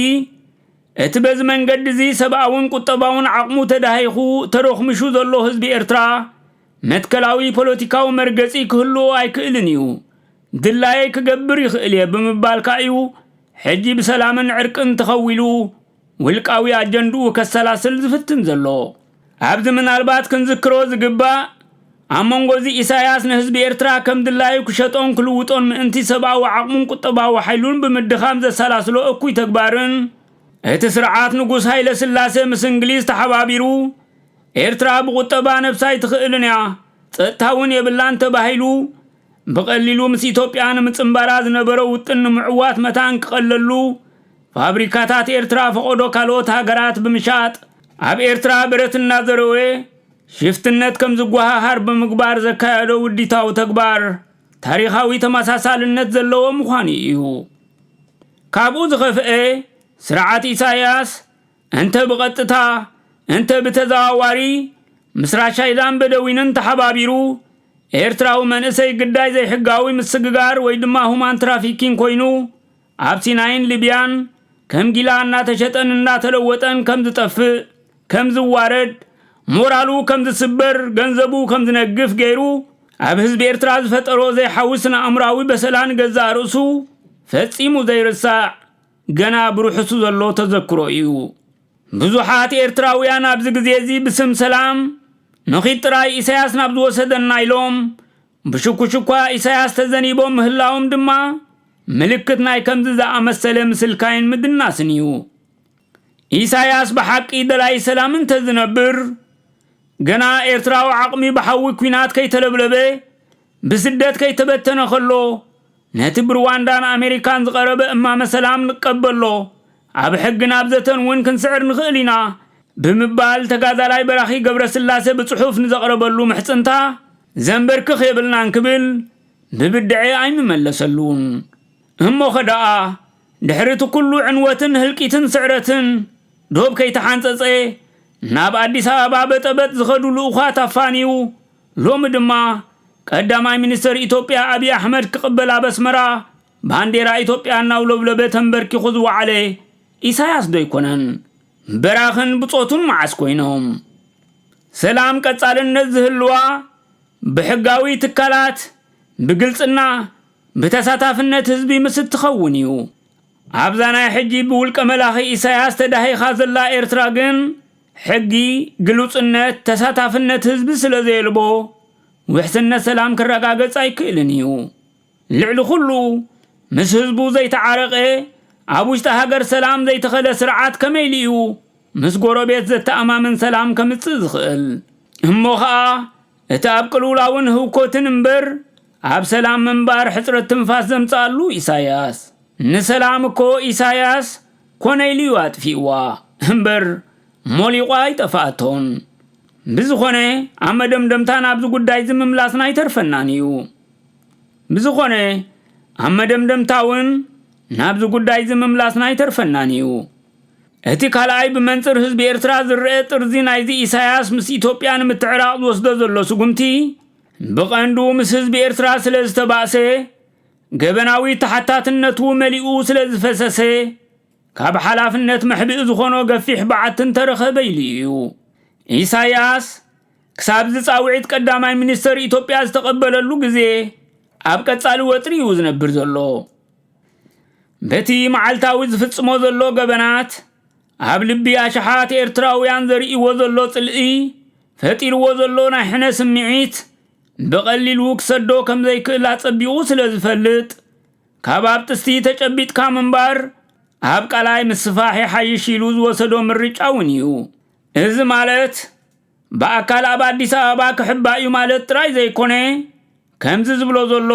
Speaker 1: እቲ በዚ መንገዲ'ዚ ሰብኣውን ቁጠባውን ዓቕሙ ተዳሂኹ ተሮኽሚሹ ዘሎ ህዝቢ ኤርትራ፣ መትከላዊ ፖለቲካዊ መርገጺ ክህልዎ ኣይክእልን እዩ። ድላየይ ክገብር ይኽእል እየ ብምባል ከኣ'ዩ ሕጂ ብሰላምን ዕርቅን ተኸዊሉ ውልቃዊ ኣጀንድኡ ከሰላስል ዝፍትን ዘሎ። ኣብዚ ምናልባት ክንዝክሮ ዝግባእ ኣብ መንጎዚ ኢሳያስ ንህዝቢ ኤርትራ ከም ድላዩ ክሸጦን ክልውጦን ምእንቲ ሰብኣዊ ዓቕሙን ቁጠባዊ ሓይሉን ብምድኻም ዘሰላስሎ እኩይ ተግባርን እቲ ስርዓት ንጉስ ሃይለስላሴ ምስ እንግሊዝ ተሓባቢሩ ኤርትራ ብቁጠባ ነብሳ ኣይትኽእልን እያ ጸጥታ እውን የብላን ተባሂሉ ብቐሊሉ ምስ ኢትዮጵያ ንምጽንባራ ዝነበሮ ውጥን ንምዕዋት መታን ክቐለሉ ፋብሪካታት ኤርትራ ፈቆዶ ካልኦት ሃገራት ብምሻጥ ኣብ ኤርትራ ብረት እናዘረወ ሽፍትነት ከም ዝጓሃሃር ብምግባር ዘካየዶ ውዲታዊ ተግባር ታሪኻዊ ተመሳሳልነት ዘለዎ ምዃኑ እዩ። ካብኡ ዝኸፍአ ስርዓት ኢሳያስ እንተ ብቐጥታ እንተ ብተዘዋዋሪ ምስ ራሻይዳን በደዊንን ተሓባቢሩ ኤርትራዊ መንእሰይ ግዳይ ዘይሕጋዊ ምስግጋር ወይ ድማ ሁማን ትራፊኪን ኮይኑ ኣብ ሲናይን ሊብያን ከም ጊላ እናተሸጠን እናተለወጠን ከም ዝጠፍእ፣ ከም ዝዋረድ፣ ሞራሉ ከም ዝስበር፣ ገንዘቡ ከም ዝነግፍ ገይሩ ኣብ ህዝቢ ኤርትራ ዝፈጠሮ ዘይሓዊ ስነ-ኣእምሮኣዊ በሰላ ንገዛእ ርእሱ ፈጺሙ ዘይርሳዕ ገና ብርሑሱ ዘሎ ተዘክሮ እዩ። ብዙሓት ኤርትራውያን ኣብዚ ግዜ'ዚ ብስም ሰላም ንኺድ ጥራይ ኢሳያስ ናብ ዝወሰደና ኢሎም ብሽኩሽኳ ኢሳያስ ተዘኒቦም ምህላዎም ድማ ምልክት ናይ ከምዚ ዝኣመሰለ ምስልካይን ምድናስን እዩ። ኢሳያስ ብሓቂ ደላይ ሰላም እንተዝነብር፣ ገና ኤርትራዊ ዓቕሚ ብሓዊ ኲናት ከይተለብለበ፣ ብስደት ከይተበተነ ከሎ፣ ነቲ ብሩዋንዳን ኣሜሪካን ዝቐረበ እማመ ሰላም ንቀበሎ፣ ኣብ ሕግን ኣብ ዘተን እውን ክንስዕር ንኽእል ኢና ብምባል ተጋዳላይ በራኺ ገብረስላሰ ብጽሑፍ ንዘቕረበሉ ምሕጽንታ ዘንበርክኽ የብልናን ክብል ብብድዐ ኣይምመለሰሉን። እሞኸ ደኣ ድሕሪ እቲ ኩሉ ዕንወትን ህልቂትን ስዕረትን ዶብ ከይተሓንጸጸ ናብ ኣዲስ ኣበባ በጠበጥ ዝኸዱ ልኡዃት ኣፋንዩ ሎሚ ድማ ቀዳማይ ሚኒስተር ኢትዮጵያ ኣብይ ኣሕመድ ክቕበል ኣብ ኣስመራ ባንዴራ ኢትዮጵያ እናውለብለበ ተንበርኪኹ ዝወዓለ ኢሳያስ ዶ ኣይኮነን? በራኽን ብጾቱን መዓስ ኮይኖም ሰላም ቀጻልነት ዝህልዋ ብሕጋዊ ትካላት ብግልጽና ብተሳታፍነት ህዝቢ ምስ እትኸውን እዩ። ኣብዛ ናይ ሕጂ ብውልቀ መላኺ ኢሳያስ ተዳሂኻ ዘላ ኤርትራ ግን ሕጊ፣ ግሉጽነት፣ ተሳታፍነት ህዝቢ ስለዘየልቦ ውሕስነት ሰላም ክረጋገጽ ኣይክእልን እዩ። ልዕሊ ኩሉ ምስ ህዝቡ ዘይተዓረቀ ኣብ ውሽጢ ሃገር ሰላም ዘይተኸለ ስርዓት ከመይሉ እዩ ምስ ጎረቤት ዘተኣማምን ሰላም ከምጽእ ዝኽእል? እሞ ኸኣ እቲ ኣብ ቅልውላውን ህውኮትን እምበር ኣብ ሰላም ምንባር ሕጽረት ትንፋስ ዘምጽኣሉ ኢሳያስ። ንሰላም እኮ ኢሳያስ ኮነ ኢሉ እዩ ኣጥፊእዋ እምበር ሞሊቋ ኣይጠፈኣቶን። ብዝኾነ ኣብ መደምደምታ ናብዚ ጉዳይዚ ምምላስና ኣይተርፈናን እዩ። ብዝኾነ ኣብ መደምደምታ እውን ናብዚ ጉዳይ እዚ ምምላስና ኣይተርፈናን እዩ። እቲ ካልኣይ ብመንፅር ህዝቢ ኤርትራ ዝረአ ጥርዚ ናይዚ ኢሳያስ ምስ ኢትዮጵያ ንምትዕራቕ ዝወስዶ ዘሎ ስጉምቲ ብቐንዱ ምስ ህዝቢ ኤርትራ ስለ ዝተባእሰ ገበናዊ ተሓታትነቱ መሊኡ ስለ ዝፈሰሰ ካብ ሓላፍነት መሕብኢ ዝኾኖ ገፊሕ በዓቲ እንተረኸበ ኢሉ እዩ። ኢሳያስ ክሳብዚ ጻውዒት ቀዳማይ ሚኒስተር ኢትዮጵያ ዝተቐበለሉ ግዜ ኣብ ቀጻሊ ወጥሪ እዩ ዝነብር ዘሎ። በቲ መዓልታዊ ዝፍጽሞ ዘሎ ገበናት ኣብ ልቢ ኣሽሓት ኤርትራውያን ዘርእይዎ ዘሎ ጽልኢ ፈጢርዎ ዘሎ ናይ ሕነ ስምዒት ብቐሊሉ ክሰዶ ከም ዘይክእል ኣጸቢቑ ስለ ዝፈልጥ ካብ ኣብ ጥስቲ ተጨቢጥካ ምንባር ኣብ ቃላይ ምስፋሕ ይሓይሽ ኢሉ ዝወሰዶ ምርጫ እውን እዩ እዚ ማለት ብኣካል ኣብ ኣዲስ ኣበባ ክሕባእ እዩ ማለት ጥራይ ዘይኮነ ከምዚ ዝብሎ ዘሎ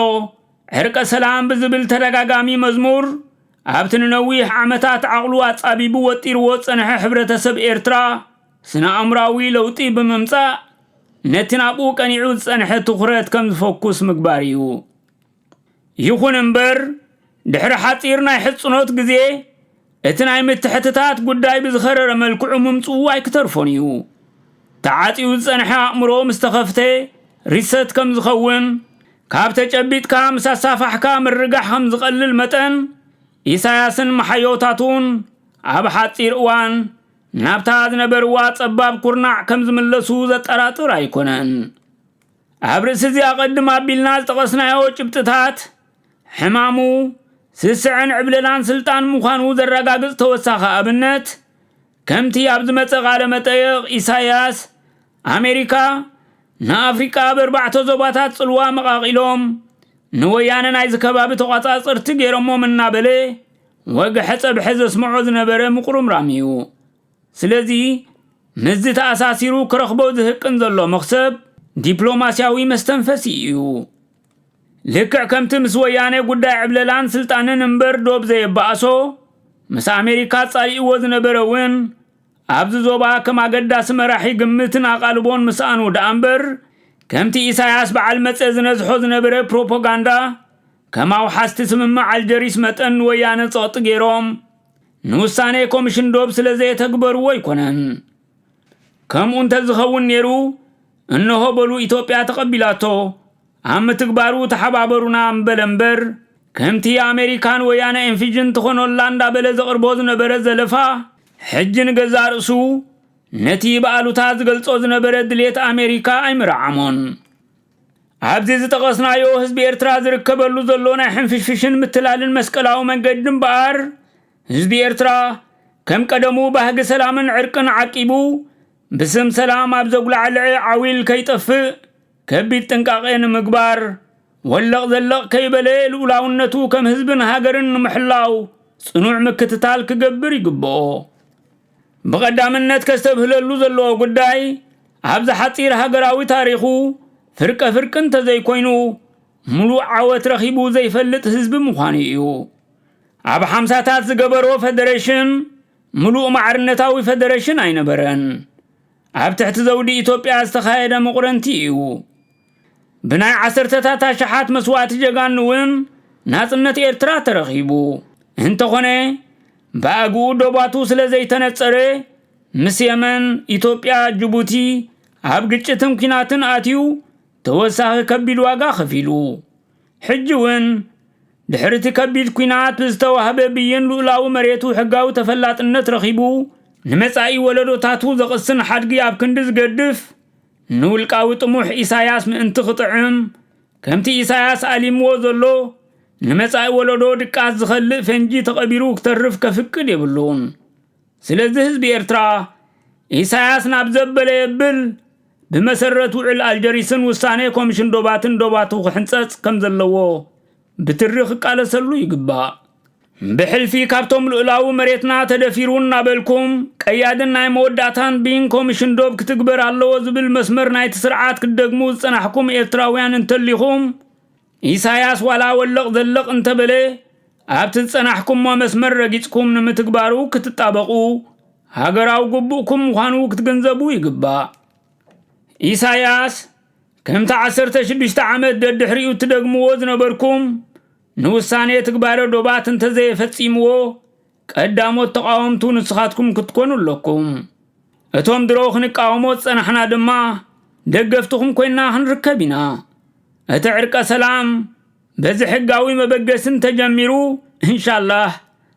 Speaker 1: ዕርቀ ሰላም ብዝብል ተደጋጋሚ መዝሙር ኣብቲ ንነዊሕ ዓመታት ዓቕሉ ኣጻቢቡ ወጢርዎ ዝጸንሐ ሕብረተሰብ ኤርትራ ስነ ኣእምራዊ ለውጢ ብምምጻእ ነቲ ናብኡ ቀኒዑ ዝጸንሐ ትኹረት ከም ዝፈኩስ ምግባር እዩ። ይኹን እምበር ድሕሪ ሓጺር ናይ ሕጽኖት ግዜ እቲ ናይ ምትሕትታት ጉዳይ ብዝኸረረ መልክዑ ምምጽኡ ኣይክተርፎን እዩ ተዓጽዩ ዝጸንሐ ኣእምሮ ምስ ተኸፍተ ሪሰት ከም ዝኸውን ካብ ተጨቢጥካ ምስ ኣሳፋሕካ ምርጋሕ ከም ዝቐልል መጠን ኢሳያስን መሓዮታቱን ኣብ ሓጺር እዋን ናብታ ዝነበርዋ ጸባብ ኩርናዕ ከም ዝምለሱ ዘጠራጥር ኣይኮነን። ኣብ ርእሲ እዚ ኣቐድም ኣቢልና ዝጠቐስናዮ ጭብጥታት፣ ሕማሙ፣ ስስዐን ዕብለላን ስልጣን ምዃኑ ዘረጋግጽ ተወሳኺ ኣብነት፣ ከምቲ ኣብ ዝመጸ ቃለ መጠይቕ ኢሳይያስ፣ ኣሜሪካ ንኣፍሪቃ ኣብ ኣርባዕተ ዞባታት ጽልዋ መቓቒሎም፣ ንወያነ ናይዚ ከባቢ ተቖጻጸርቲ ገይሮሞም እናበለ ወግሐ ጸብሐ ዘስምዖ ዝነበረ ምቁርምራም እዩ። ስለዚ ምስዚ ተኣሳሲሩ ክረኽቦ ዝህቅን ዘሎ መኽሰብ ዲፕሎማሲያዊ መስተንፈሲ ኢዩ። ልክዕ ከምቲ ምስ ወያነ ጉዳይ ዕብለላን ስልጣንን እምበር ዶብ ዘየባኣሶ፣ ምስ ኣሜሪካ ኣጻሊእዎ ዝነበረ እውን ኣብዚ ዞባ ከም ኣገዳሲ መራሒ ግምትን ኣቓልቦን ምስኣኑ ደኣምበር ከምቲ ኢሳያስ በዓል መጸ ዝነዝሖ ዝነበረ ፕሮፖጋንዳ ከም ኣውሓስቲ ስምምዕ ኣልጀሪስ መጠን ንወያነ ጸቕጢ ገይሮም ንውሳኔ ኮምሽን ዶብ ስለ ዘየተግበርዎ ኣይኮነን። ከምኡ እንተዝኸውን ኔሩ እንሆ በሉ ኢትዮጵያ ተቐቢላቶ ኣብ ምትግባሩ ተሓባበሩና ምበለ እምበር ከምቲ ኣሜሪካን ወያነ ኤንፊጅን ትኾኖላ እንዳበለ ዘቕርቦ ዝነበረ ዘለፋ ሕጂ ንገዛእ ርእሱ ነቲ ብኣሉታ ዝገልጾ ዝነበረ ድሌት ኣሜሪካ ኣይምረዓሞን። ኣብዚ ዝጠቐስናዮ ህዝቢ ኤርትራ ዝርከበሉ ዘሎ ናይ ሕንፍሽፍሽን ምትላልን መስቀላዊ መንገዲ እምበኣር ህዝቢ ኤርትራ ከም ቀደሙ ባህጊ ሰላምን ዕርቅን ዓቂቡ ብስም ሰላም ኣብ ዘጉላዕልዐ ዓዊል ከይጠፍእ ከቢድ ጥንቃቄ ንምግባር ወለቕ ዘለቕ ከይበለ ልኡላውነቱ ከም ህዝብን ሃገርን ንምሕላው ጽኑዕ ምክትታል ክገብር ይግብኦ። ብቐዳምነት ከስተብህለሉ ዘለዎ ጉዳይ ኣብዚ ሓፂር ሃገራዊ ታሪኹ ፍርቀ ፍርቂ እንተዘይኮይኑ ሙሉእ ዓወት ረኺቡ ዘይፈልጥ ህዝቢ ምዃኑ እዩ። ኣብ ሓምሳታት ዝገበሮ ፈደሬሽን ሙሉእ ማዕርነታዊ ፈደሬሽን ኣይነበረን። ኣብ ትሕቲ ዘውዲ ኢትዮጵያ ዝተኻየደ መቑረንቲ እዩ። ብናይ ዓሰርተታት ኣሽሓት መስዋእቲ ጀጋኑ እውን ናጽነት ኤርትራ ተረኺቡ እንተኾነ ብኣግኡ ዶባቱ ስለ ዘይተነጸረ ምስ የመን ኢትዮጵያ ጅቡቲ ኣብ ግጭትን ኲናትን ኣትዩ ተወሳኺ ከቢድ ዋጋ ከፊሉ ሕጂ እውን ድሕሪ እቲ ከቢድ ኲናት ብዝተዋህበ ብይን ልኡላዊ መሬቱ ሕጋዊ ተፈላጥነት ረኺቡ ንመጻኢ ወለዶታቱ ዘቕስን ሓድጊ ኣብ ክንዲ ዝገድፍ ንውልቃዊ ጥሙሕ ኢሳያስ ምእንቲ ክጥዕም፣ ከምቲ ኢሳያስ ኣሊምዎ ዘሎ፣ ንመጻኢ ወለዶ ድቃስ ዝኸልእ ፈንጂ ተቐቢሩ ክተርፍ ከፍቅድ የብሉን። ስለዚ ህዝቢ ኤርትራ፣ ኢሳያስ ናብ ዘበለ የብል፣ ብመሰረት ውዕል ኣልጀሪስን ውሳኔ ኮምሽን ዶባትን ዶባቱ ክሕንጸጽ ከምዘለዎ ብትሪ ክቃለሰሉ ይግባእ። ብሕልፊ ካብቶም ልኡላዊ መሬትና ተደፊሩ እናበልኩም ቀያድን ናይ መወዳእታን ብይን ኮሚሽን ዶብ ክትግበር ኣለዎ ዝብል መስመር ናይቲ ስርዓት ክትደግሙ ዝጸናሕኩም ኤርትራውያን እንተሊኹም ኢሳያስ ዋላ ወለቕ ዘለቕ እንተበለ ኣብቲ ዝጸናሕኩሞ መስመር ረጊጽኩም ንምትግባሩ ክትጣበቑ ሃገራዊ ግቡእኩም ምዃኑ ክትግንዘቡ ይግባእ። ኢሳያስ ከምቲ ዓሰርተ ሽዱሽተ ዓመት ደድሕሪኡ እትደግምዎ ዝነበርኩም ንውሳኔ ትግባረ ዶባት እንተዘየፈጺምዎ ቀዳሞት ተቓወምቱ ንስኻትኩም ክትኮኑ ኣለኩም። እቶም ድሮ ክንቃወሞ ዝጸናሕና ድማ ደገፍትኹም ኮይና ክንርከብ ኢና። እቲ ዕርቀ ሰላም በዚ ሕጋዊ መበገሲ እንተጀሚሩ እንሻላህ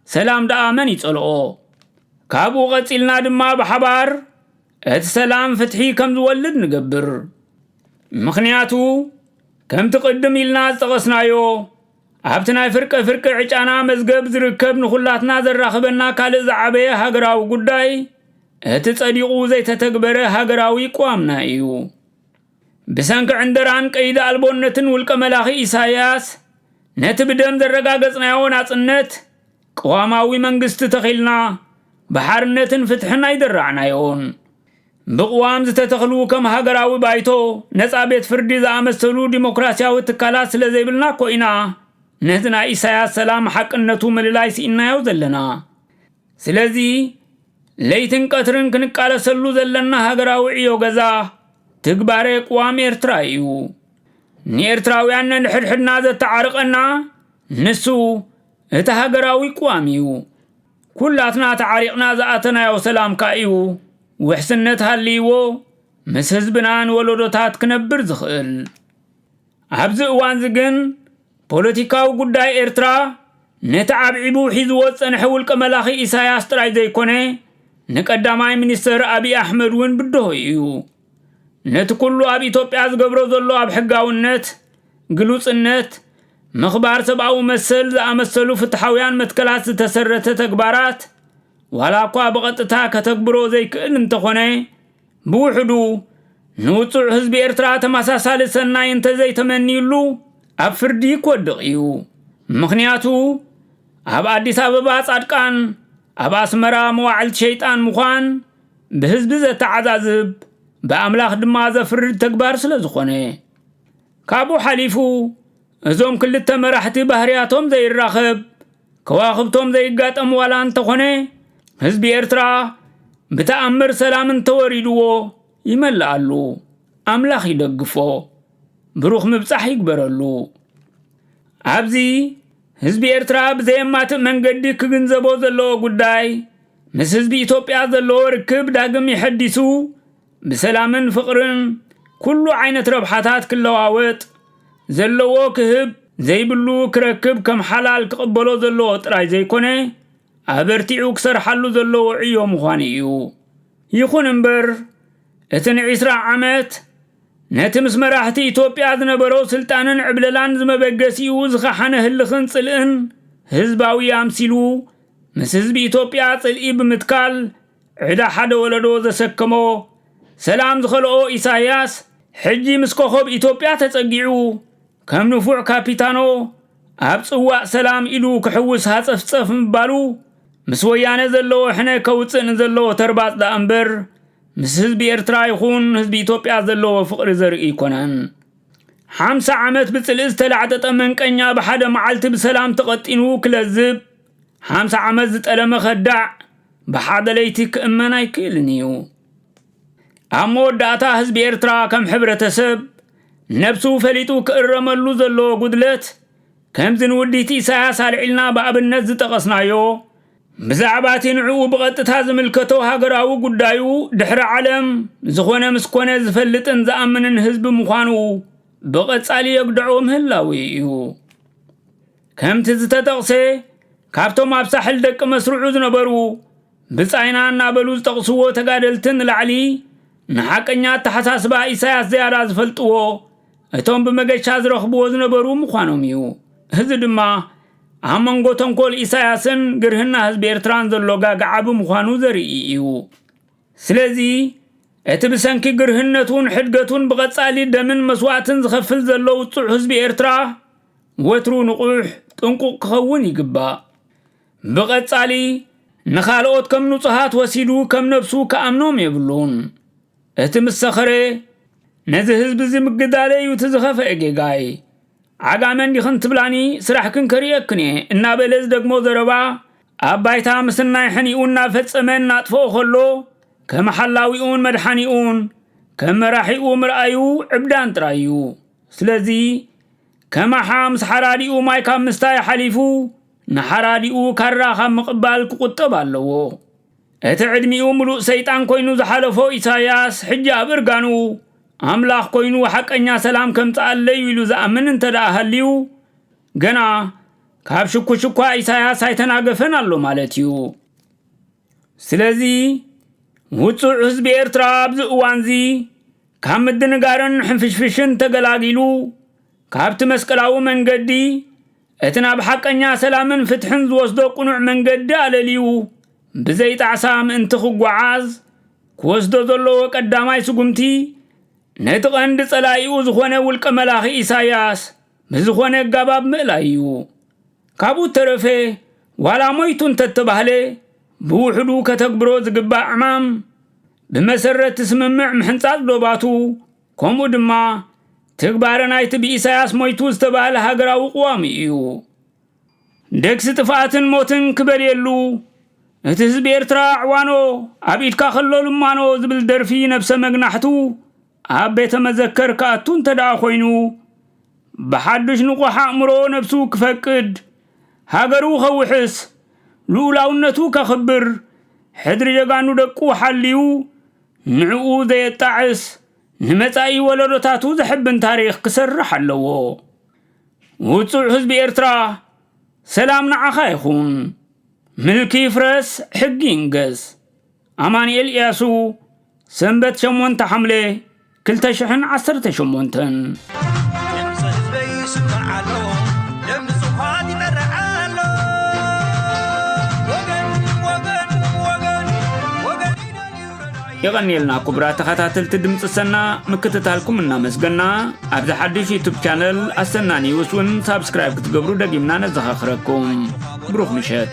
Speaker 1: ሰላም ደኣ መን ይጸልኦ። ካብኡ ቀጺልና ድማ ብሓባር እቲ ሰላም ፍትሒ ከም ዝወልድ ንገብር። ምኽንያቱ ከምቲ ቅድም ኢልና ዝጠቐስናዮ ኣብቲ ናይ ፍርቀ ፍርቂ ዕጫና መዝገብ ዝርከብ ንኹላትና ዘራኽበና ካልእ ዝዓበየ ሃገራዊ ጉዳይ እቲ ጸዲቑ ዘይተተግበረ ሃገራዊ ቅዋምና እዩ። ብሰንኪ ዕንደራን ቀይዲ ኣልቦነትን ውልቀ መላኺ ኢሳያስ ነቲ ብደም ዘረጋገጽናዮ ናጽነት ቅዋማዊ መንግስቲ ተኺልና ብሓርነትን ፍትሕን ኣይደራዕናዮን። ብቕዋም ዝተተኽሉ ከም ሃገራዊ ባይቶ፣ ነጻ ቤት ፍርዲ ዝኣመሰሉ ዲሞክራሲያዊ ትካላት ስለ ዘይብልና እኮ ኢና ነቲ ናይ ኢሳያስ ሰላም ሓቅነቱ ምልላይ ስኢንናዮ ዘለና። ስለዚ ለይትን ቀትርን ክንቃለሰሉ ዘለና ሃገራዊ ዕዮ ገዛ ትግባሬ ቅዋም ኤርትራ ኢዩ። ንኤርትራውያን ነንሕድሕድና ዘተዓርቐና ንሱ እቲ ሃገራዊ ቅዋም እዩ። ኩላትና ተዓሪቕና ዝኣተናዮ ሰላም ከኣ እዩ ውሕስነት ሃልይዎ ምስ ህዝብና ንወለዶታት ክነብር ዝኽእል። ኣብዚ እዋንዚ ግን ፖለቲካዊ ጉዳይ ኤርትራ ነቲ ዓብዒቡ ሒዝዎ ዝጸንሐ ውልቀ መላኺ ኢሳያስ ጥራይ ዘይኮነ ንቀዳማይ ሚኒስተር ኣቢይ ኣሕመድ እውን ብድሆ እዩ። ነቲ ኩሉ ኣብ ኢትዮጵያ ዝገብሮ ዘሎ ኣብ ሕጋውነት፣ ግሉጽነት፣ ምኽባር ሰብኣዊ መሰል ዝኣመሰሉ ፍትሓውያን መትከላት ዝተሰረተ ተግባራት ዋላ እኳ ብቐጥታ ከተግብሮ ዘይክእል እንተኾነ ብውሕዱ ንውጹዕ ህዝቢ ኤርትራ ተመሳሳሊ ሰናይ እንተዘይተመንዩሉ ኣብ ፍርዲ ክወድቕ እዩ። ምኽንያቱ ኣብ ኣዲስ ኣበባ ጻድቃን ኣብ ኣስመራ መዋዕልቲ ሸይጣን ምዃን ብህዝቢ ዘተዓዛዝብ ብኣምላኽ ድማ ዘፍርድ ተግባር ስለ ዝኾነ ካብኡ ሓሊፉ እዞም ክልተ መራሕቲ ባህርያቶም ዘይራኸብ ከዋኽብቶም ዘይጋጠም ዋላ እንተኾነ ህዝቢ ኤርትራ ብተኣምር ሰላም እንተወሪድዎ ይመልኣሉ ኣምላኽ ይደግፎ ብሩኽ ምብጻሕ ይግበረሉ ኣብዚ ህዝቢ ኤርትራ ብዘየማትእ መንገዲ ክግንዘቦ ዘለዎ ጉዳይ፣ ምስ ህዝቢ ኢትዮጵያ ዘለዎ ርክብ ዳግም የሐዲሱ፣ ብሰላምን ፍቕርን ኩሉ ዓይነት ረብሓታት ክለዋወጥ፣ ዘለዎ ክህብ፣ ዘይብሉ ክረክብ ከም ሓላል ክቕበሎ ዘለዎ ጥራይ ዘይኮነ፣ ኣበርቲዑ ክሰርሓሉ ዘለዎ ዕዮ ምዃኑ እዩ። ይኹን እምበር፣ እቲ ንዒስራ ዓመት፣ ነቲ ምስ መራሕቲ ኢትዮጵያ ዝነበሮ ስልጣንን ዕብለላን ዝመበገሲኡ ዝኸሓነ ህልኽን ጽልእን ህዝባዊ ኣምሲሉ ምስ ህዝቢ ኢትዮጵያ ጽልኢ ብምትካል ዕዳ ሓደ ወለዶ ዘሰከሞ ሰላም ዝኸልኦ ኢሳይያስ ሕጂ ምስ ኮኾብ ኢትዮጵያ ተጸጊዑ ከም ንፉዕ ካፒታኖ ኣብ ጽዋእ ሰላም ኢዱ ክሕውስ ሃጸፍጸፍ ምባሉ ምስ ወያነ ዘለዎ ሕነ ከውጽእ ንዘለዎ ተርባጽ ደኣ እምበር ምስ ህዝቢ ኤርትራ ይኹን ህዝቢ ኢትዮጵያ ዘለዎ ፍቕሪ ዘርኢ ኣይኮነን። ሓምሳ ዓመት ብጽልኢ ዝተላዕጠጠ መንቀኛ ብሓደ መዓልቲ ብሰላም ተቐጢኑ ክለዝብ፣ ሓምሳ ዓመት ዝጠለመ ከዳዕ ብሓደ ለይቲ ክእመን ኣይክእልን እዩ። ኣብ መወዳእታ ህዝቢ ኤርትራ ከም ሕብረተሰብ ነብሱ ፈሊጡ ክእረመሉ ዘለዎ ጉድለት ከምዚ ንውዲት ኢሳያስ ኣልዒልና ብኣብነት ዝጠቐስናዮ ብዛዕባ እቲ ንዕኡ ብቐጥታ ዝምልከቶ ሃገራዊ ጉዳዩ ድሕሪ ዓለም ዝኾነ ምስ ኮነ ዝፈልጥን ዝኣምንን ህዝቢ ምዃኑ ብቐጻሊ የግድዖ ምህላው እዩ። ከምቲ ዝተጠቕሰ ካብቶም ኣብ ሳሕል ደቂ መስርዑ ዝነበሩ ብጻይና እናበሉ ዝጠቕስዎ ተጋደልቲ ንላዕሊ ንሓቀኛ ኣተሓሳስባ ኢሳያስ ዝያዳ ዝፈልጥዎ እቶም ብመገሻ ዝረኽብዎ ዝነበሩ ምዃኖም እዩ እዚ ድማ ኣብ መንጎ ተንኮል ኢሳያስን ግርህና ህዝቢ ኤርትራን ዘሎ ጋግዓ ብምዃኑ ዘርኢ እዩ ስለዚ እቲ ብሰንኪ ግርህነቱን ሕድገቱን ብቐጻሊ ደምን መስዋእትን ዝኸፍል ዘሎ ውጹዕ ህዝቢ ኤርትራ ወትሩ ንቑሕ ጥንቁቕ ክኸውን ይግባእ ብቐጻሊ ንኻልኦት ከም ንጹሃት ወሲዱ ከም ነብሱ ክኣምኖም የብሉን እቲ ምስ ሰኸረ ነዚ ህዝቢ እዚ ምግዳለ እዩ እቲ ዝኸፈአ ጌጋይ ዓጋመ እንዲኽን ትብላኒ ስራሕክን ከርእየክን እየ እናበለ ዝደግሞ ዘረባ ኣብ ባይታ ምስናይ ሕኒኡ እናፈጸመ እናጥፍኦ ከሎ ከም ሓላዊኡን መድሓኒኡን ከም መራሒኡ ምርኣዩ ዕብዳን ጥራይ እዩ ስለዚ ከማሓ ምስ ሓራዲኡ ማይ ካብ ምስታይ ሓሊፉ ንሓራዲኡ ካራ ካብ ምቕባል ክቑጠብ ኣለዎ እቲ ዕድሚኡ ምሉእ ሰይጣን ኮይኑ ዝሓለፎ ኢሳያስ ሕጂ ኣብ እርጋኑ ኣምላኽ ኮይኑ ሓቀኛ ሰላም ከምጽኣለይ'ዩ ኢሉ ዝኣምን እንተደኣ ሃልዩ ገና ካብ ሽኩሽኳ ኢሳያስ ኣይተናገፈን ኣሎ ማለት እዩ። ስለዚ ውጹዕ ህዝቢ ኤርትራ ኣብዚ እዋንዚ ካብ ምድንጋርን ሕንፍሽፍሽን ተገላጊሉ ካብቲ መስቀላዊ መንገዲ እቲ ናብ ሓቀኛ ሰላምን ፍትሕን ዝወስዶ ቅኑዕ መንገዲ ኣለልዩ ብዘይ ጣዕሳ ምእንቲ ክጓዓዝ ክወስዶ ዘለዎ ቀዳማይ ስጉምቲ ነቲ ቀንዲ ጸላኢኡ ዝኾነ ውልቀ መላኺ ኢሳያስ ብዝኾነ ኣጋባብ ምእላይ እዩ። ካብኡ እተረፈ ዋላ ሞይቱ እንተተባህለ ብውሕዱ ከተግብሮ ዝግባእ ዕማም ብመሰረት እቲ ስምምዕ ምሕንጻጽ ዶባቱ ከምኡ ድማ ትግባረ ናይቲ ብኢሳያስ ሞይቱ ዝተባህለ ሃገራዊ ቅዋሙ እዩ። ደግሲ ጥፍኣትን ሞትን ክበልየሉ እቲ ህዝቢ ኤርትራ ዕዋኖ ኣብ ኢድካ ከሎ ልማኖ ዝብል ደርፊ ነብሰ መግናሕቱ ኣብ ቤተ መዘከር ክኣቱ እንተ ደኣ ኮይኑ ብሓዱሽ ንቑሕ ኣእምሮ ነብሱ ክፈቅድ ሃገሩ ከውሕስ ልኡላውነቱ ከኽብር ሕድሪ ጀጋኑ ደቁ ሓልዩ ንዕኡ ዘየጣዕስ ንመጻኢ ወለዶታቱ ዘሕብን ታሪኽ ክሰርሕ ኣለዎ። ውጹዕ ህዝቢ ኤርትራ ሰላም ንዓኻ ይኹን። ምልኪ ይፍረስ ሕጊ ይንገስ። ኣማንኤል ኢያሱ ሰንበት ሸሞንተ ሓምለ ክልተ ሽሕን ዓሰርተ ሸሞንተን የቐንየልና ክቡራት ተኸታተልቲ ድምፂ ሰና ምክትታልኩም እናመስገና ኣብዚ ሓድሽ ዩቱብ ቻነል ኣሰና ኒውስ እውን ሳብስክራይብ ክትገብሩ ደጊምና ነዘኻኽረኩም ብሩኽ ምሸት